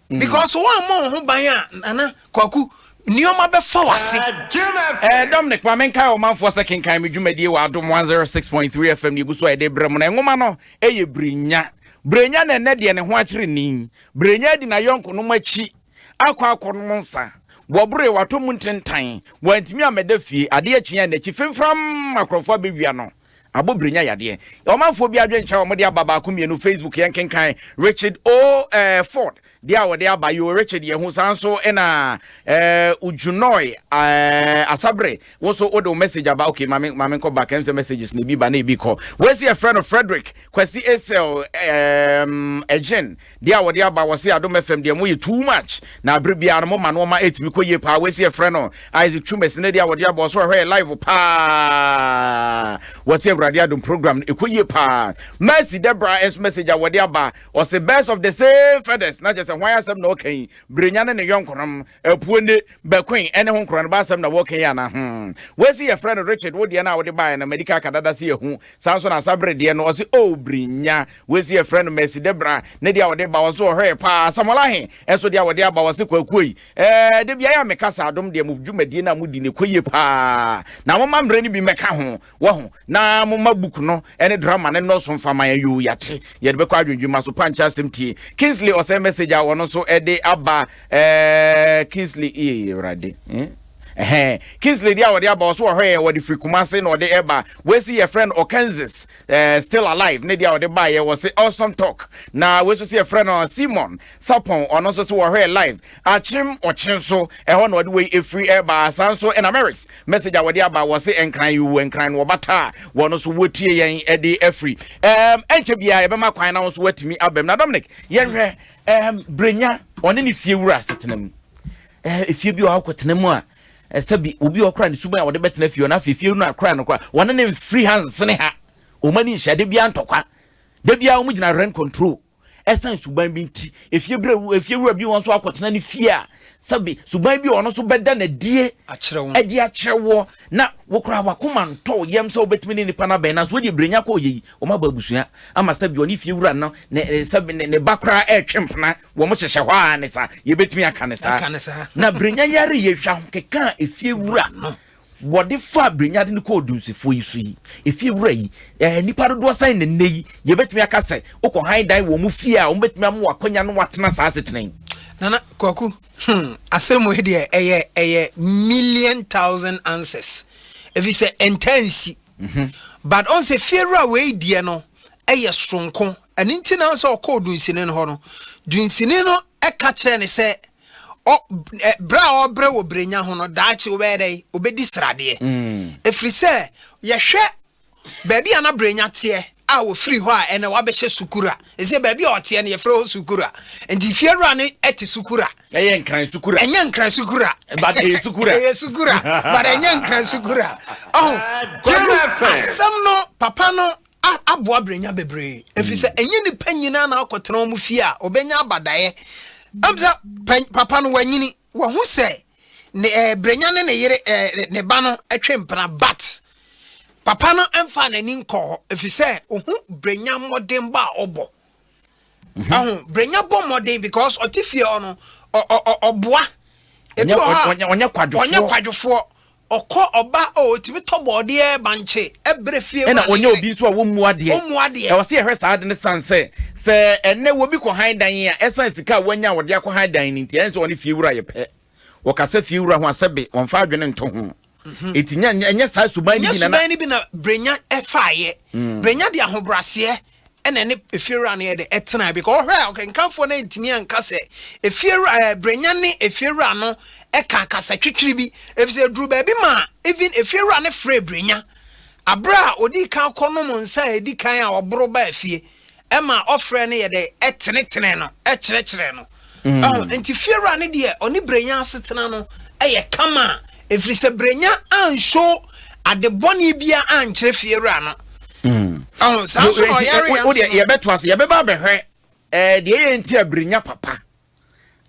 Because woammɔ wo ho ban a, Nana Kwaku, nneɛma bɛfa w'ase. Eh, Dominic, ma menkae ɔmanfoɔ sɛ kenkan me dwumadie wɔ Adom 106.3 FM ne ɛgu so a yɛde brɛ mo no. Nwoma no yɛ Berenya. Berenya na ɛnnɛ deɛ ne ho akyere ni. Berenya adi n'ayɔnkonom akyi akɔ akɔnom nsa. Wɔboree, wɔatɔ mu ntentan, wɔantumi ammɛda fie. Adeɛ kyeeɛ a n'akyi fimfram akorɔmfoɔ abɛwia no. Abɔbrɛ nya yadeɛ. Ɔmanfoɔ bi adwene kyerɛ a wɔde aba baako mmienu Facebook yɛnkenkan Richard O. Eh, Ford deɛ a wɔde aba yoo Richard yɛ ho saa nso ɛna eh, Ujunoi eh, Asabre wo nso wode wo message aba okay maame maame nkɔ back ɛm sɛ messages na ebi ba na ebi kɔ wɔasi ɛfrɛ no Frederick Kwasi Esel eh, Ejen Deɛ a wɔde aba wɔ se Adom FM deɛ moyɛ too much na abere biara no moma noɔma ɛtumi kɔ yie paa wei se yɛfrɛ no Isaac Twumasi ne deɛ a wɔde aba ɔso ɛhɔ yɛ live paa wɔ se Awurade Adom program no ɛkɔ yie paa Mercy Debra ɛnso message a wɔde aba ɔse birds of the same feathers na kyɛ sɛ hwan asɛm na ɔka yi berenya ne ne yɔnkonom apuo ne bɛkoin ɛne ho nkorɔ no ba asɛm na wɔka yi ana ho wei se yɛfrɛ no Richard wo deɛ no a wode baeɛ no madi ka kadada se yɛhu saa nso na asa bere deɛ no ɔse oh berenya Wei nso yɛfrɛ no Mercidebra. Ne deɛ a wɔde ba wɔ so wɔ hɔ yɛ paa. Samuel Ahe nso deɛ a wɔde aba wɔ se kwakuo yi. Ɛɛ da biara a meka saa adom deɛ mo dwumadie no a modi no ɛkɔ yie paa. Na momma mmerɛ no bi mmɛka ho wahu. Na momma book no ne drama no nnɔɔso mfa ma yɛn yoo yɛate. Yɛde bɛkɔ adwendwema so pankyɛ asɛm tie. Kingsley ɔsɛe message a wɔn nso de aba ɛɛ Kingsley ee Awurade. Eh? Ɛhɛn. Kingsley deɛ a wɔde aba wɔ so wɔ hɔ yɛ wɔde firi Kumase na wɔde ɛba. Wei nso yɛfrɛ no Okanzis. eh, still alive ne deɛ a wɔde baeɛ wɔ se awesome talk na wei nso sɛ yɛfrɛ no simon sapon ɔno nso sɛ wɔhwɛ live akyem ɔkye so ɛhɔ na ɔde wei ɛfiri ɛbaa saa nso ɛna mericks message a wɔde aba wɔ se nkran yi wɔ nkran no wɔbata a wɔno nso wɔtie yɛn ɛde afiri ɛm ɛnkyɛ biara yɛbɛma kwan na wo nso woatumi abam na dominic yɛnhwɛ ɛm brenya ɔne ne fie wura asetena mu ɛfie eh, bi a wɔakɔtena mu a ɛsɛ bi obi a ɔkora ne suban a wɔde bɛtena fie ɔno afei fie no akora no kora wɔne ne mfiri ha nsene ha wɔn ani nhyɛ de bia ntɔkwa de bia wɔn gyina rent control ɛsan suban bi nti efie bere efie wura bi wɔn nso akɔtena ne fie a sɛbi suban bi ɔno nso bɛda na die ɛde akyerɛ wɔ na wɔkora wakoma ntɔ yɛm sɛ wɔbɛtumi ne nipa no abɛn nanso wɔde ebirenya kɔ yɛ yi wɔn abɔ abusua ama sɛbi ɔne fie wura no ne sɛbi ne ne ba koraa ɛretwe mpena Wɔn hyehyɛ hɔ ara ne saa. Yɛbɛtumi aka ne saa. Na Birenya yare yɛ hwa ho keka a efie wura no wɔde fa Birenya de no kɔ odunsifoɔ yi so yi. Efie wura yi, ɛɛ nipa dodoɔ sɛn na nnɛ yi yɛbɛtumi aka sɛ wokɔ han dan wɔn fie a wɔbɛtumi ama wɔ akwanya no watena saa asetena yi. Nana Kwaku, hmm, asɛm mu deɛ ɛyɛ ɛyɛ million thousand answers. Efi sɛ ɛntaa nsi. Mm -hmm. But ɔn sɛ fie wura wei deɛ no ɛyɛ soronko Ɛno nti na sɛ ɔkɔɔ dunsini no hɔ no, dunsini no ka kyerɛɛ no sɛ, ɔ, ɛ, berɛ a ɔrebrɛ wɔ berɛnya ho no, daakye ɔbɛyɛ dɛn? Ɔbɛdi sradeɛ. Ɛfiri sɛ, yɛhwɛ baabi a na berɛnya teɛ a ɔfiri hɔ a, ɛnna wabɛhyɛ Sukura. Ɛsɛ baabi a ɔteɛ no, yɛfrɛ hɔ Sukura. Nti fiewura no te Sukura. Ɛyɛ Nkran Sukura. Ɛnyɛ Nkran Sukura. But ɛyɛ Sukura. ɛyɛ Sukura, but ɛnyɛ Nkran Sukura. Ɔho, Kwadu, asɛm no, papa no a aboa brɛnya bebree ɛfiri sɛ ɛnyɛ nnipa nyinaa na akɔtena wɔn fie a ɔbɛnya abadaeɛ ɛm sɛ papa no wanyini wahu sɛ ne ɛɛ eh, brɛnya ne ne yere ɛɛ eh, ne ba no ɛtwe mpena but papa no ɛmfa n'ani nkɔ hɔ ɛfiri sɛ ohu brɛnya mmɔdenbɔ a ɔbɔ mhm. aho brɛnya bɔ mmɔden because ɔte fie hɔ no ɔboa ebi wɔ hɔ a ɔnyɛ kwadwofoɔ ɔkɔ ɔba a ɔtumi tɔ bɔɔdeɛ bankye ɛbrɛ fie ɛna ɔnyɛ obi nso a wɔmmu adeɛ ɔmmu adeɛ ɛwɔ sɛ yɛhwɛ saa de ne san sɛ sɛ ɛnɛ wɔbi kɔ han dan a ɛsan sika a wɔanya a wɔde akɔ han dan no nti ɛn sɛ ɔne fie wura yɛ pɛ wɔkasa fie wura ho asɛ be wɔmfa adwene nto ho Mhm. Eti nya nya ɛnyɛ saa suban no bi na na. suban no bi na Brenya ɛfaayɛ. Mm. Brenya de ahobraseɛ ɛna ne efiewura no yɛ de ɛtena bi. Kɔ ɔhwɛ a ɔkankanfoɔ no ntumi anka sɛ efiewura ɛɛ eh, Brenya ne efiewura no ɛka kasa twitwiri bi. Efisɛ eduru baabi ma even efiewura no frɛ Brenya. Abere a odi kan kɔ nom nsa a edi kan a ɔboro baa fie. ɛma ɔfrɛ no yɛ dɛ ɛtenetene no ɛkyerɛkyerɛ no ɛho mm. nti fiewura no deɛ ɔne brenya asetena no ɛyɛ kama ɛfiri sɛ brenya anhyo ade bɔne bia ankyerɛ fiewura no mm. ɛho saa nso ɔyare yɛn yɛbɛto ase yɛbɛba abɛhwɛ ɛɛ deɛ yɛ nti a brenya papa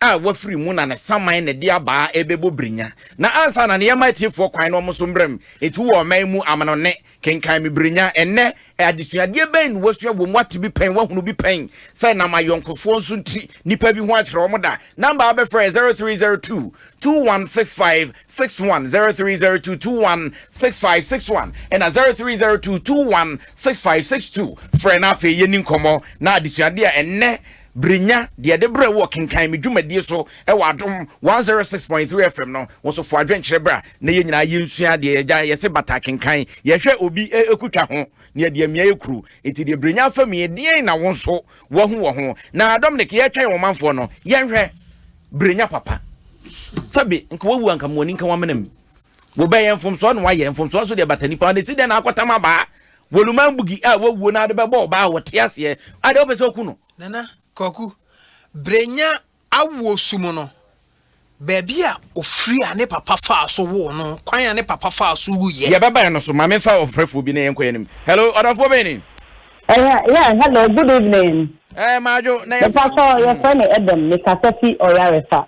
a wafiri mu na ne saman na ɛde abaa rebɛbɔ birinya. Na ansa na ne yɛma atiefoɔ kwan na wɔn nso mmerɛ mu ɛtu wɔ ɔman mu amanɔnne, kenkan me birinya. Ɛnnɛ, adesuadeɛ bɛn na wasua wɔ mu? Wate bi pɛn? Wahunu bi pɛn? Sɛ nam ayɔnkofoɔ nso nti nnipa bi ho akyerɛ wɔn da. Namba a wobɛfrɛ yɛ 0302 216561, 0302 216561 ɛna 0302 216562. Frɛ na afei yɛni nkɔmmɔ na adesuadeɛ a ɛnnɛ Bere nya de ɛde brɛ wo wɔ kenkan me dwumadie so wɔ adom 106.3 FM no wo so fo adwenkyerɛ bra na yɛ nyinaa yɛ nsua deɛ yɛgya yɛse bata kenkan yɛhwɛ obi ɛkutwa ho na yɛde amia yɛ kuru nti deɛ bere nya fa mi ɛdeɛn na wo nso wahu wɔ ho na adom ne ke yɛtwɛn wɔ manfoɔ no yɛnhwɛ bere nya papa sɛbe nka wawu anka moani nka wamenam Wobɛyɛ mfomsoɔ na wayɛ, mfomsoɔ nso deɛ ɛbata nipa hɔ, na ɛsi dɛn na akɔtam abaa? Woluman Bugi a wawuo na wode bɛbɔ ɔbaa a ɔte aseɛ a deɛ wopɛ sɛ woku no? Nana Kwaku, Brenya awoɔ su mu no, baabi a ɔfiri a ne papa faa so woo no, kwan a ne papa faa so wuiɛ. Deɛ ɛbɛbae no so, ma memfa ɔfrɛfoɔ bi na yɛnkɔ yɛn anim. Hello, ɔdɔfoɔ bɛn ni? Ɛyɛ, yeah, hello, good evening. Ɛɛ, Madwo, na yɛfrɛ. Mepa sɔ, yɛfrɛ me Edem, mekasa fi Ɔyarefa.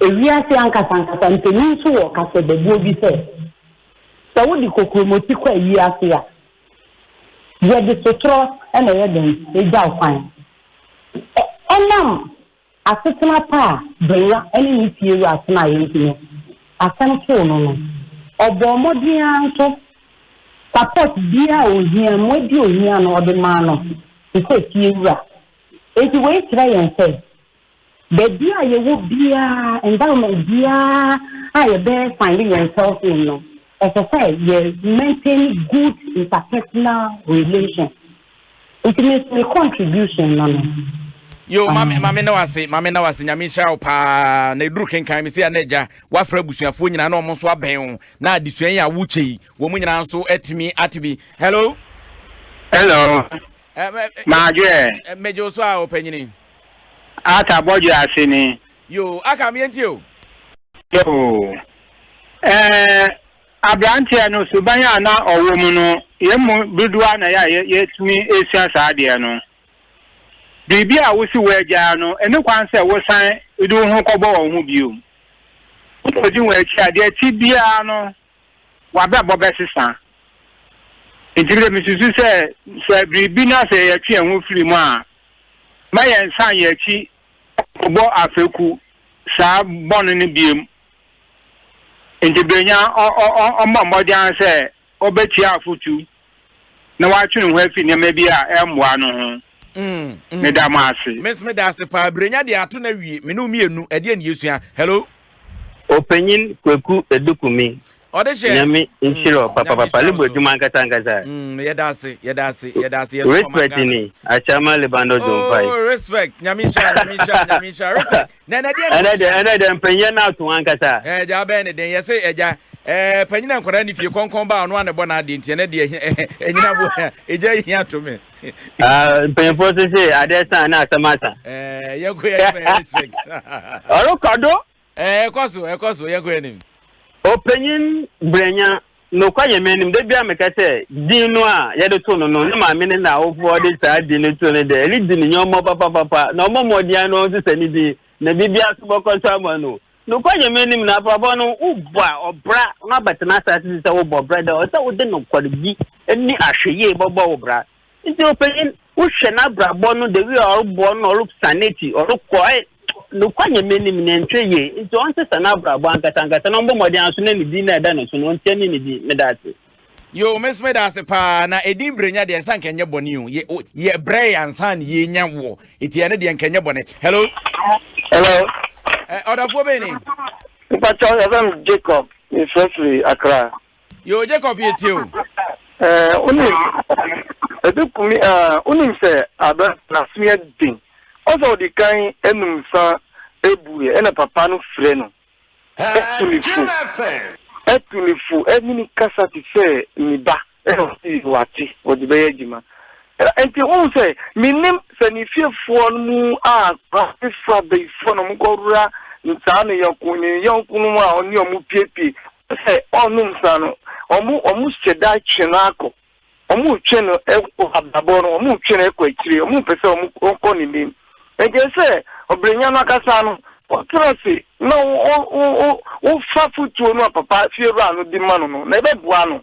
Ewiase ankasankasa mpanin nso wɔ ɔkasɛbɛbuo bi sɛ, Sɛ wode kokuromoti kɔ ayi ase a, yɛde sotorɔ na ɛyɛ dɛn? Ɛgya wo kwan. Ɛ, ɛnam asetena pa a Benwa ne ne fiewura tenaeɛ nti no, asɛm too no no. Ɔbɔɔ mmɔden ara nso, support biara a ɔhia, mmoa bi a ɔhia no, ɔde maa no te sɛ fiewura. Enti wei kyerɛ yɛn sɛ, Baabi a yɛwɔ biara, environment biara a yɛbɛ find yɛn self in no, ɛsɛ sɛ yɛ maintain good interpersonal relations. Nti me nso me contribution no no. Yoo mame mame na wase mame na wase nyame nhyira wo paa na eduru kenkan me se a na agya wafra abusuafoɔ nyinaa na wɔn nso abɛn wo na adesua yi a wokyɛ yi wɔn nyinaa nso atumi ate bi hello hello eh, eh, eh, maadwe eh, eh, megye wo so a ɔpanyini Arthur bɔdwe ase ni. Yoo aka me yɛntie o. Yoo ɛɛ abranteɛ no suban a na ɔwɔ mu no yɛn mu dodoɔ na yɛ a yɛtumi esua saa adeɛ no. Biribi a wosi wo agyaa no ɛne kwan sɛ wosan de wo ho kɔbɔ wɔn ho bio. Wokɔdi wɔn akyi a deɛ ɛte biara no. w'abrabɔ bɛsesa. Enti bi de misusu sɛ, sɛ biribi na sɛ yɛtwe yɛn ho firi mu a, mma yɛnsan yɛn akyi nkɔbɔ afɛku saa bɔne no biom. Enti Berenya, ɔ, ɔ, ɔ, ɔmmɔ mmɔden ara sɛ ɔbɛtie afotu. na watwe ne ho afi nneɛma bi a ɛmmoa no ho. Mm, mm. Meda mo ase. Miss meda ase paa. Birenya deɛ ato na wie. Me ne mmienu. Ɛdeɛ ne yɛsua. Hello. Ɔpanyin Kwaku Edukumi. Ɔde hyɛ. Nyame nhyira mm, papa papa. Libo adwuma nkasa nkasa. Mm, yɛda ase, yɛda ase, yɛda ase. Respect ni. Achama Lebando Zompai. Oh, respect. Nyame nhyira, Nyame nhyira, Nyame nhyira. Respect. Na ɛnɛ deɛ na ɔsua. Ɛnɛ deɛ mpanyin ɛna ato ankasa. Ɛɛ gya abɛn ne den yɛsɛ ɛgya ɛɛ panyin a nkwadaa ne fie kɔnkɔn ba ɔno a na ɛbɔ n'adeɛ nti ɛnɛ deɛ ɛnyina bo ɛgya yi hia to me. Mpanyinfoɔ so se adeɛ san na asɛm asa. Ɛɛ yɛn ko yɛ anim ɛyɛ respect. Ɔrekɔ do. Ɛɛ ɛkɔ so ɛkɔ so yɛn ko yɛ anim. Ɔpanyin brɛnya Nokwarem, minim, da biara meka sɛ, din no a yɛde to no no, ne maame ne n'awofoɔ de saa din no too no dɛ, ɛredi ne nneɛma papapapa, na ɔmmɔ mmɔden ara na ɔnsesa ne din, na biribiara so bɔkɔ so ama no. Nokwarem, minim, na abrabɔ no, wobɔ a, ɔbra, na abɛtena asase so sɛ wobɔ bra dɛ, ɛwɔ sɛ wode nokwaredi ne ahwɛyie bɛbɔ wo bra. Enti, ɔpanyin, Wohwɛ n'abrabɔ no the way a ɔrobɔ no na ɔrosan n'ekyir ɔrokɔ ayɛ nokwa nyɛ m'enyim na nnhwɛ yie ntsi ɔnnsesa n'abrabɔ ankasa ankasa na ɔmbɔ mbɔdzen aso na ne dzin no a eda no so no ɔnkyea nye ne dzin. Meda ase. Yoo me so meda ase paa na edin brenya deɛ nsa nka nyɛ bɔne o yɛ yɛ brɛ yɛ ansa na yɛ nya wɔ eti ɛne deɛ nka nyɛ bɔne hello hello ɛ ɔdafoɔ bɛyɛ ne mpatsɔ yɛfrɛ me Jacob mefrɛ firi Accra Yoo Jacob yɛtie o. Ɛɛ wonim ɛde kumi a wonim sɛ aberante no aso yɛ den ɔsɛ ɔde kan anum nsa abuɛ ɛna papa no frɛ no ɛtu ne fo ɛtu ne fo ɛne ne kasa te sɛ ne ba ɛna ɔsi wate ɔde bɛyɛ adwuma ɛnti wohu sɛ menim sɛ ne fiefoɔ no mu a abefoɔ abayifoɔ na ɔmo kɔwura ntaa ne yɔnko ne yɔnko no mu a ɔne ɔmo piepie Sɛ ɔnnom nsa no, wɔhyɛ da twe no akɔ. Wɔtwe no kɔ abrabɔ no, wɔtwe no kɔ akyire, wɔmpɛ sɛ ɔkɔ n'anim. Ɛnkyɛ sɛ ɔbrenya no ankasa no, ɔtena ase na ɔfa afotuo no a papa fiewura no de ma no no, na ɛbɛboa no.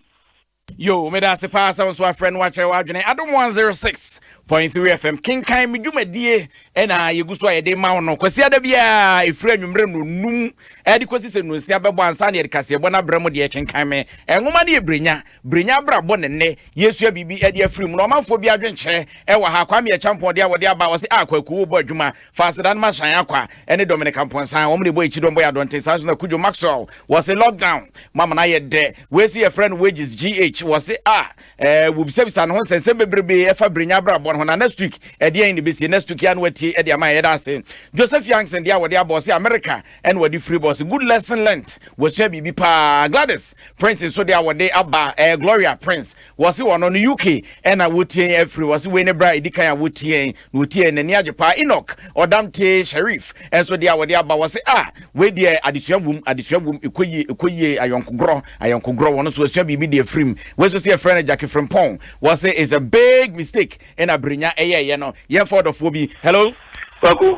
Yo, meda ase paa sɛ wo nso afrɛ no wakyerɛ w'adwene. Adom 106.3 FM, kenkan me dwumadie ɛna yɛgu so a yɛde ma wo no. Kwasi ada biara ɛfiri anwummerɛ nnɔnum ɛde kɔsi sɛ nnɔnsia bɛbɔ ansa ne yɛde kaseɛbɔ no abrɛ mu deɛ kenkan me. Nwoma no yɛ Brenya, Brenya abrabɔ ne nnɛ. Yɛsua biribi ɛde afiri mu na ɔmanfoɔ bi adwenkyerɛ ɛwɔ ha. Kwame Acheampong deɛ wɔde aba ɔse a kwaku wobɔ adwuma Fasedan Marchand Akwa ne Dominic Amponsah, wɔn na ɛbɔ Akyidɔm Boy Adɔnten, saa nso na Kudjo Maxwell, wɔse lockdown, mo amena ayɛ dɛ, wei se yɛfrɛ no Wages GH, wɔse a, eh, wobisabisa ne ho nsɛnsɛm bebrebe ɛfa Birenya abrabɔ no ho, na next week ɛdeɛn na ɛbɛsie, next week yɛ na watie de ama yɛda ase. Joseph Youngson deɛ a wɔde abɔ ɔse America ɛna wɔde firi bɔ ɔse good lesson learnt, wɔsua biribi paa. Gladys Prince nso deɛ a wɔde aba, eh, Gloria Prince, Wɔse wɔno no UK na wotiɛn afiri. Wɔse wei ne berɛ a ɛdi kan a wotiɛn na wotiɛn n'ani agye paa. Enoch Ɔdamtee Sharif nso deɛ a wɔde aba wɔse a ah, wei deɛ adesua wom adesua wom ɛkɔ yie ɛkɔ yie ayɔnkogorɔ ayɔnkogorɔ wɔn nso asua biribi deɛ firim. Wei nso se yɛfrɛ no Jackie Frimpong wɔse is a big mistake ɛna Berenya ɛyɛɛyɛ no. Yɛmfa ɔdɔfoɔ bi. Hello. Kwaku,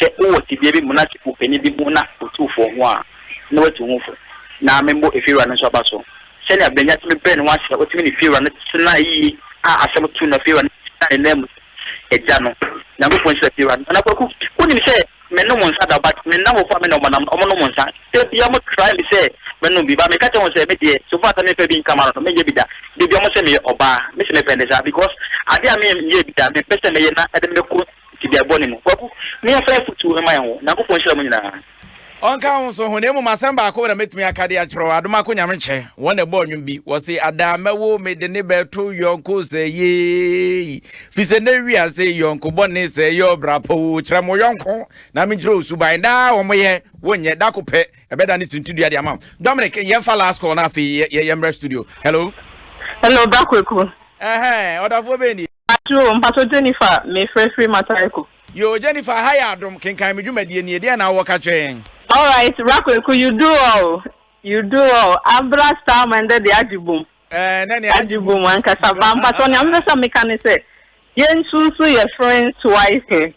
Sɛ wowɔ tebea bi mu na sɛ ɔpanin bi hu na ɔtu fo ho a, na watu wo ho fo. Ná memmɔ efiewura no nso aba so. Sɛnea Benya tumi brɛɛ ne ho ase na otumi ne efiewura no tenae yiye a asɛm too no na efiewura no gyinaa ne nan mu sɛ, Agya no, Nyankopɔn nhyira efiewura no. Nana Kwaku, wunim sɛ mennom nsa da but me nnamfofo a me ne wɔn nam no, wɔnom nsa. Da biara wɔtry me sɛ mɛnom bi but meka kyerɛ wɔn sɛ, me deɛ, so far sɛ memfa bi nka m'ano no, menyɛ bi da. Da biara wɔse meyɛ ɔbaa. Mese mepɛ ne saa because ade a menyɛɛ bi da a mempɛ sɛ mɛyɛ na ɛde me kɔ Tebea bɔne mu. Kwaku, me afra afotu mma yɛn wo. Nyankopɔn nhyira mo nyinaa. Ɔnka wo nso ho, na mmom asɛm baako na mɛtumi aka de akyerɛ wo, Adomako Nyamekyɛ, wɔn na ɛbɔɔ nnwom bi, wɔse, Adaa mɛwo me de ne bɛto yɔnko sɛ yei, fi sɛ nɛ wiase yɔnko bɔne sɛ yɛ ɔbrapɔ wo, kyerɛ mo yɔnko na menkyerɛ wo suban, daa wɔn yɛ, wo nyɛ, da ko pɛ ɛbɛda ne suntidua de ama wo. Dominic, yɛmfa last call no afei yɛmmrɛ studio. Hello. Hello, Bra Kwaku. Ɛhɛn, ɔdafoɔ bɛn nie? Pakyoo o, mpakyɛw Jennifer mefrɛ firi Mataaiko. Yoo Jennifer aha yɛ adom, kenkan me dwumadie nie, deɛn na wowɔ ka kyerɛ yɛn? Alright bra kwaku you do all you do all abra starman dɛ deɛ agye bom Ɛɛ nɛ nea agye bom ankasa ba mpakyɛw nea mepɛ sɛ meka ne sɛ yɛnsusu yɛ friends twice.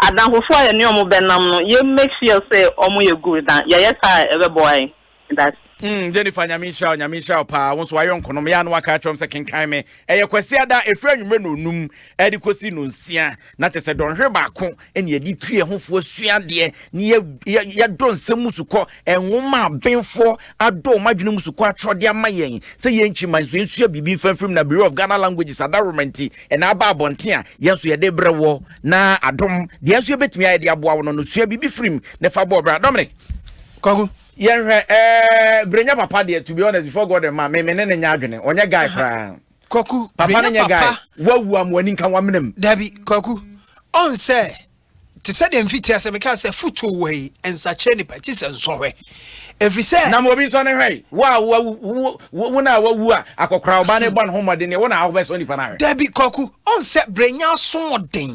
Adamfofo a yɛne wɔn bɛnam no, yɛ make sure sɛ wɔyɛ good na yɛyɛ saa a ɛbɛboa yɛn. Medase. Mm Jennifer Nyame nhyira wo Nyame nhyira wo paa wo nso wayɔnkonom yɛ a na waka akyerɛ wɔn sɛ kenkan me ɛyɛ Kwasiada ɛfiri anwummerɛ nnɔnum ɛde kɔsi nnɔnsia na kyɛ sɛ dɔnhwere baako ɛne yɛde tu yɛ ho foɔ sua adeɛ ne yɛ yɛ yɛdɔ nsɛm mu sukɔ Nwoma a abenfoɔ adɔ wɔn adwene mu sukuu atwerɛ de ama yɛn sɛ yɛnkyi mma nso yɛnsua biribi mfa mfirim na Bureau of Ghana Languages adaworoma nti na aba abɔnten a yɛn nso yɛde rebrɛ woɔ na adom deɛ nso yɛbɛtumi ayɛ de aboa wo no no sua biribi firim na fa bɔɔ bra Dominic Kwaku yɛnhwɛ ɛɛ Brenya papa deɛ to be honest before God and man me me ne ne nyɛ adwene ɔnyɛ guy koraa Kwaku papa ne nyɛ guy wawu a mo ani nka wamenam dabi Kwaku ɔn sɛ te sɛ deɛ mfitiaseɛ mekaa sɛ fotuo wɔ yi nsakyerɛ nipa akyi sɛ nsɔhwɛ ɛfiri sɛ na ma obi nsɔ ne hwɛ yi wo a wo na wawu a akɔkora ɔba ne bɔ ne ho mmɔden ne wo na ahobɛsɔ nipa no ahwɛ dabi kwaku ɔn sɛ brɛnya asoɔden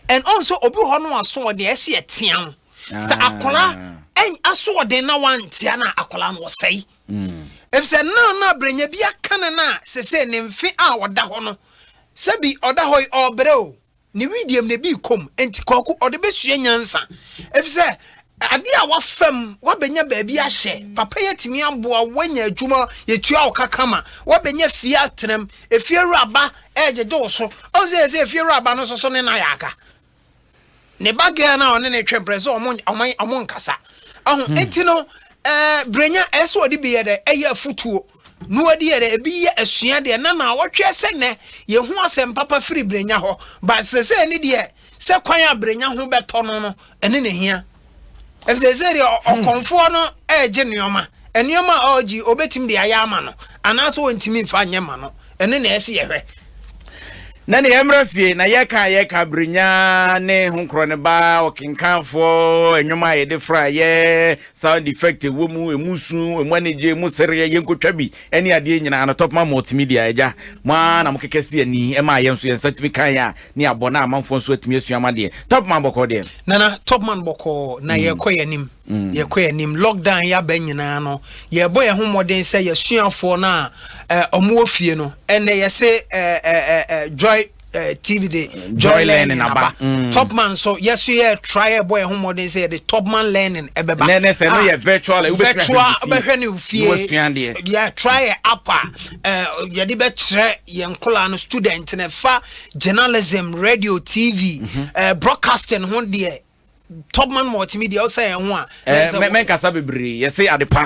ɛn ɔn sɛ obi hɔ no asoɔden ɛsi ɛtea ho sɛ ah. akɔla ɛn asoɔden na wantea na akɔla no wɔsɛe hmm. ɛfiri sɛ na na brɛnya bi aka ne no a sɛsɛ ne mfe a ɔda hɔ no sɛbi ɔda hɔ yi ɔbrɛ o Ne wedeɛm na ebi kɔm nti kɔɔko ɔde bɛsua nyansa efisɛ adeɛ a wafam wabɛnya baabi ahyɛ papa yi atumi aboa wanya adwuma yɛtua wo ka kama wabɛnya fie atenam efie awura ba ɛgyegye wo so ɔn sɛ yɛsɛ efie awura ba no soso ne na yɛaka ne ba gɛɛ no a ɔne ne twɛmprɛ sɛ ɔmo nkasa ɛho nti no brenya ɛsɛ ɔde bi yɛ dɛ ɛyɛ afutuo Noa di yɛ dɛ, ebi yɛ asua deɛ na naawɔtweɛ sɛ nɛ yɛhu asɛm papa firi brenya hɔ but sesei ne deɛ sɛ kwan a brenya ho bɛtɔ no no ɛne na hia ɛfisɛ sɛ deɛ ɔkɔmfoɔ no ɛregye nneɛma nneɛma a ɔregye obɛtumi de ayɛ ama no anaasɛ ɔntumi mfa nyɛ ma no Ɛno na ɛsɛ yɛhwɛ. Na nea ɛmmra fie, na yɛka a yɛka Brenya ne Ho Nkorɔ no ba ɔkenkanfoɔ nnwom a yɛde fra yɛ sound effect ɛwɔ mu, ɛmu su, ɛmu anigye, ɛmu sereɛ, yɛnkɔtwa bi ɛne adeɛ nyinaa no Topman Multimedia agya, mo ara na mo kɛkɛ si ani ɛma a yɛn nso yɛn nsa tumi kan a ne abɔ na amanfoɔ nso atumi asua ama deɛ Topman bɔkɔɔ deɛ. Nana Topman bɔkɔɔ na yɛrekɔ yɛn anim. Mm. yɛkɔ anim lockdown yi aba nyinaa no yɛbɔ yɛn ho mmɔden sɛ yɛsuafoɔ no a eh, ɔmo wɔ fie no ɛnɛ yɛse eh, eh, eh, joy eh, tv de joy, joy learning aba mm. topman so yɛso yɛ try ɛbɔ yɛn ho mmɔden sɛ yɛde topman learning ɛbɛba nɛ nɛ sɛ no ah, yɛ virtual eh, virtual bɛhwɛ no fie yɛ try yɛ app a eh, yɛde bɛkyerɛ yɛn nkola no student no fa journalism radio tv mm -hmm. eh, broadcasting ho deɛ Topman Multimedia ɔsɛ yɛn ho a. ɛɛ mɛ mɛnkasa bebree yɛsɛ ade pa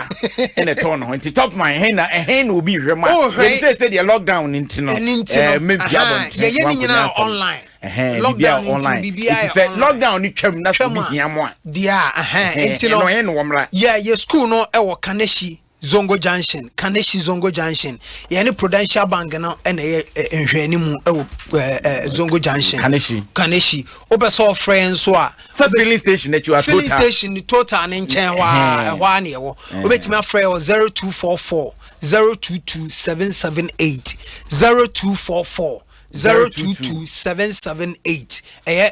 ɛna ɛtɔn ne ho nti Topman ɛhɛn na ɛhɛn na obi hwɛ mu a yɛn sɛ sɛ deɛ lockdown ne nti no ɛɛ mɛ bi abɔnten yɛyɛ ne nyinaa online ɛhɛn bibi a online nti sɛ lockdown ne twam na sɛ obi hia mu a deɛ ɛhɛn ɛno ɛhɛn na wɔn mra yɛ yɛ sukuu no ɛwɔ Kanehyi. Zongo Junction, Kaneshie Zongo Junction. Yɛne Prudential Bank no na ɛyɛ eh, nhwɛanimu wɔ eh, eh, Zongo Junction. Kaneshie. Kaneshie. Wopɛ sɛ ɔfrɛ yɛn nso a. Sɛ filling station akyi wa Filling station ne total ne nkyɛn hɔ a ɛhɔ a na ɛwɔ. Wobɛtumi afrɛ wɔ 0244 022 778 0244 022778 ɛyɛ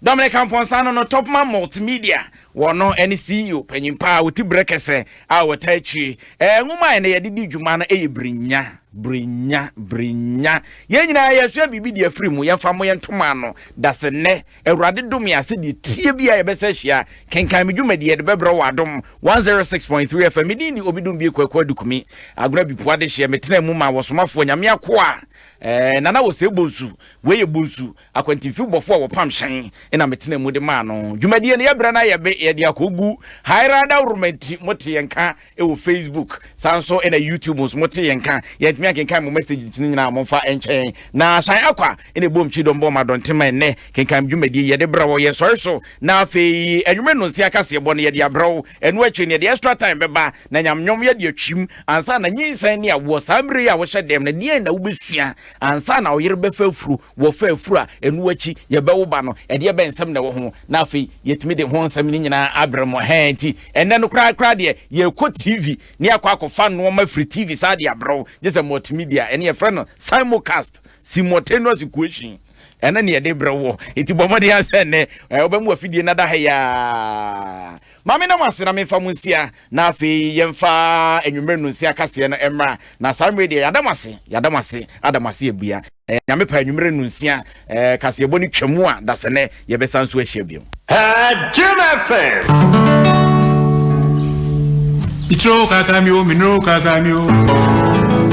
Dominic Amponsah no no Topman Multimedia wɔ no ɛne CEO panyin pa a ɔti berɛ kɛsɛ a wɔtaa akyire ɛɛ nwoma a ɛnɛ yɛde di dwuma no ɛyɛ Brinya Brinya Brinya yɛn nyinaa yɛsua biribi de afiri mu yɛmfa mo yɛn ntoma ano dase nnɛ awurade dome a sɛdeɛ tie bi a yɛbɛsɛ ahyia kenkan me dwumadi yɛde bɛbrɛ wɔ adom 106.3 FM medin de obi dom bie kwaku adukumi agorɔ abipua de hyeɛ metena mu ma wɔsomafoɔ nyame akoa ɛɛ nana wɔ sɛ bonsu wei yɛ bonsu Akwantufibɔfo a wɔpam hyɛn na metenaa mu de maa no. Dwumadie no, yɛbrɛ no ayɛ be, yɛde akɔgu Hairada Woromanti. Mote yɛn nka wɔ Facebook, saa nso na YouTube nso mote yɛn nka. Yɛantumi ankenkan mo messages no nyinaa a, momfa nkyɛ yɛn. Na Shan Akwa na ɛboom kyii dɔm bɔɔ ma dɔnten ma ɛnnɛ. Kenkan dwumadie yi, yɛde brɛ wo. Yɛsɔre so, na afei anwummere nnɔnsia kaseɛbɔ no, yɛde abrɛ wo. Ɛno akyiri no, yɛde extra time bɛba, na nyame nnwom yɛde atwim. Ansa na nyinsɛn ne awoɔ, saa mmerɛ yi a wohyɛ dɛm no, deɛn na wobɛsua ansa na wo yere bɛfa afuro? Wɔfa afuru a ɛno akyi yɛbɛwo ba no, ɛdeɛ bɛn nsɛm na ɛwɔ ho? Na afei yɛtumi de ho nsɛm no nyinaa abrɛ mo. Ɛhɛɛ, enti ɛnnɛ no koraa koraa deɛ, yɛrekɔ TV na yɛakɔ akɔfa nnoɔma firi TV saa de abrɛ wo, gye sɛ multimedia, ɛno yɛfrɛ no simulcast, simultaneous equation, ɛno na yɛde brɛ woɔ. Enti bɔ mmɔden ara sɛ ɛnnɛ wobɛma w'afidie no ada ha yi ara. Ma meda mo ase na memfa mo nsia, na afei yɛmfa anwummere nnonsia kaseɛ no mmra, na saa mmerɛ deɛ yɛada mo ase, yɛada mo ase, ada mo ase abua. Eh, Nyame pa anwummere nnonsia eh, kaseɛbɔ no twa mu a, dasɛnɛ yɛbɛsa nso ahyia bio. Eh, Jim FM. Mitro kaka mi o, minro kaka mi o.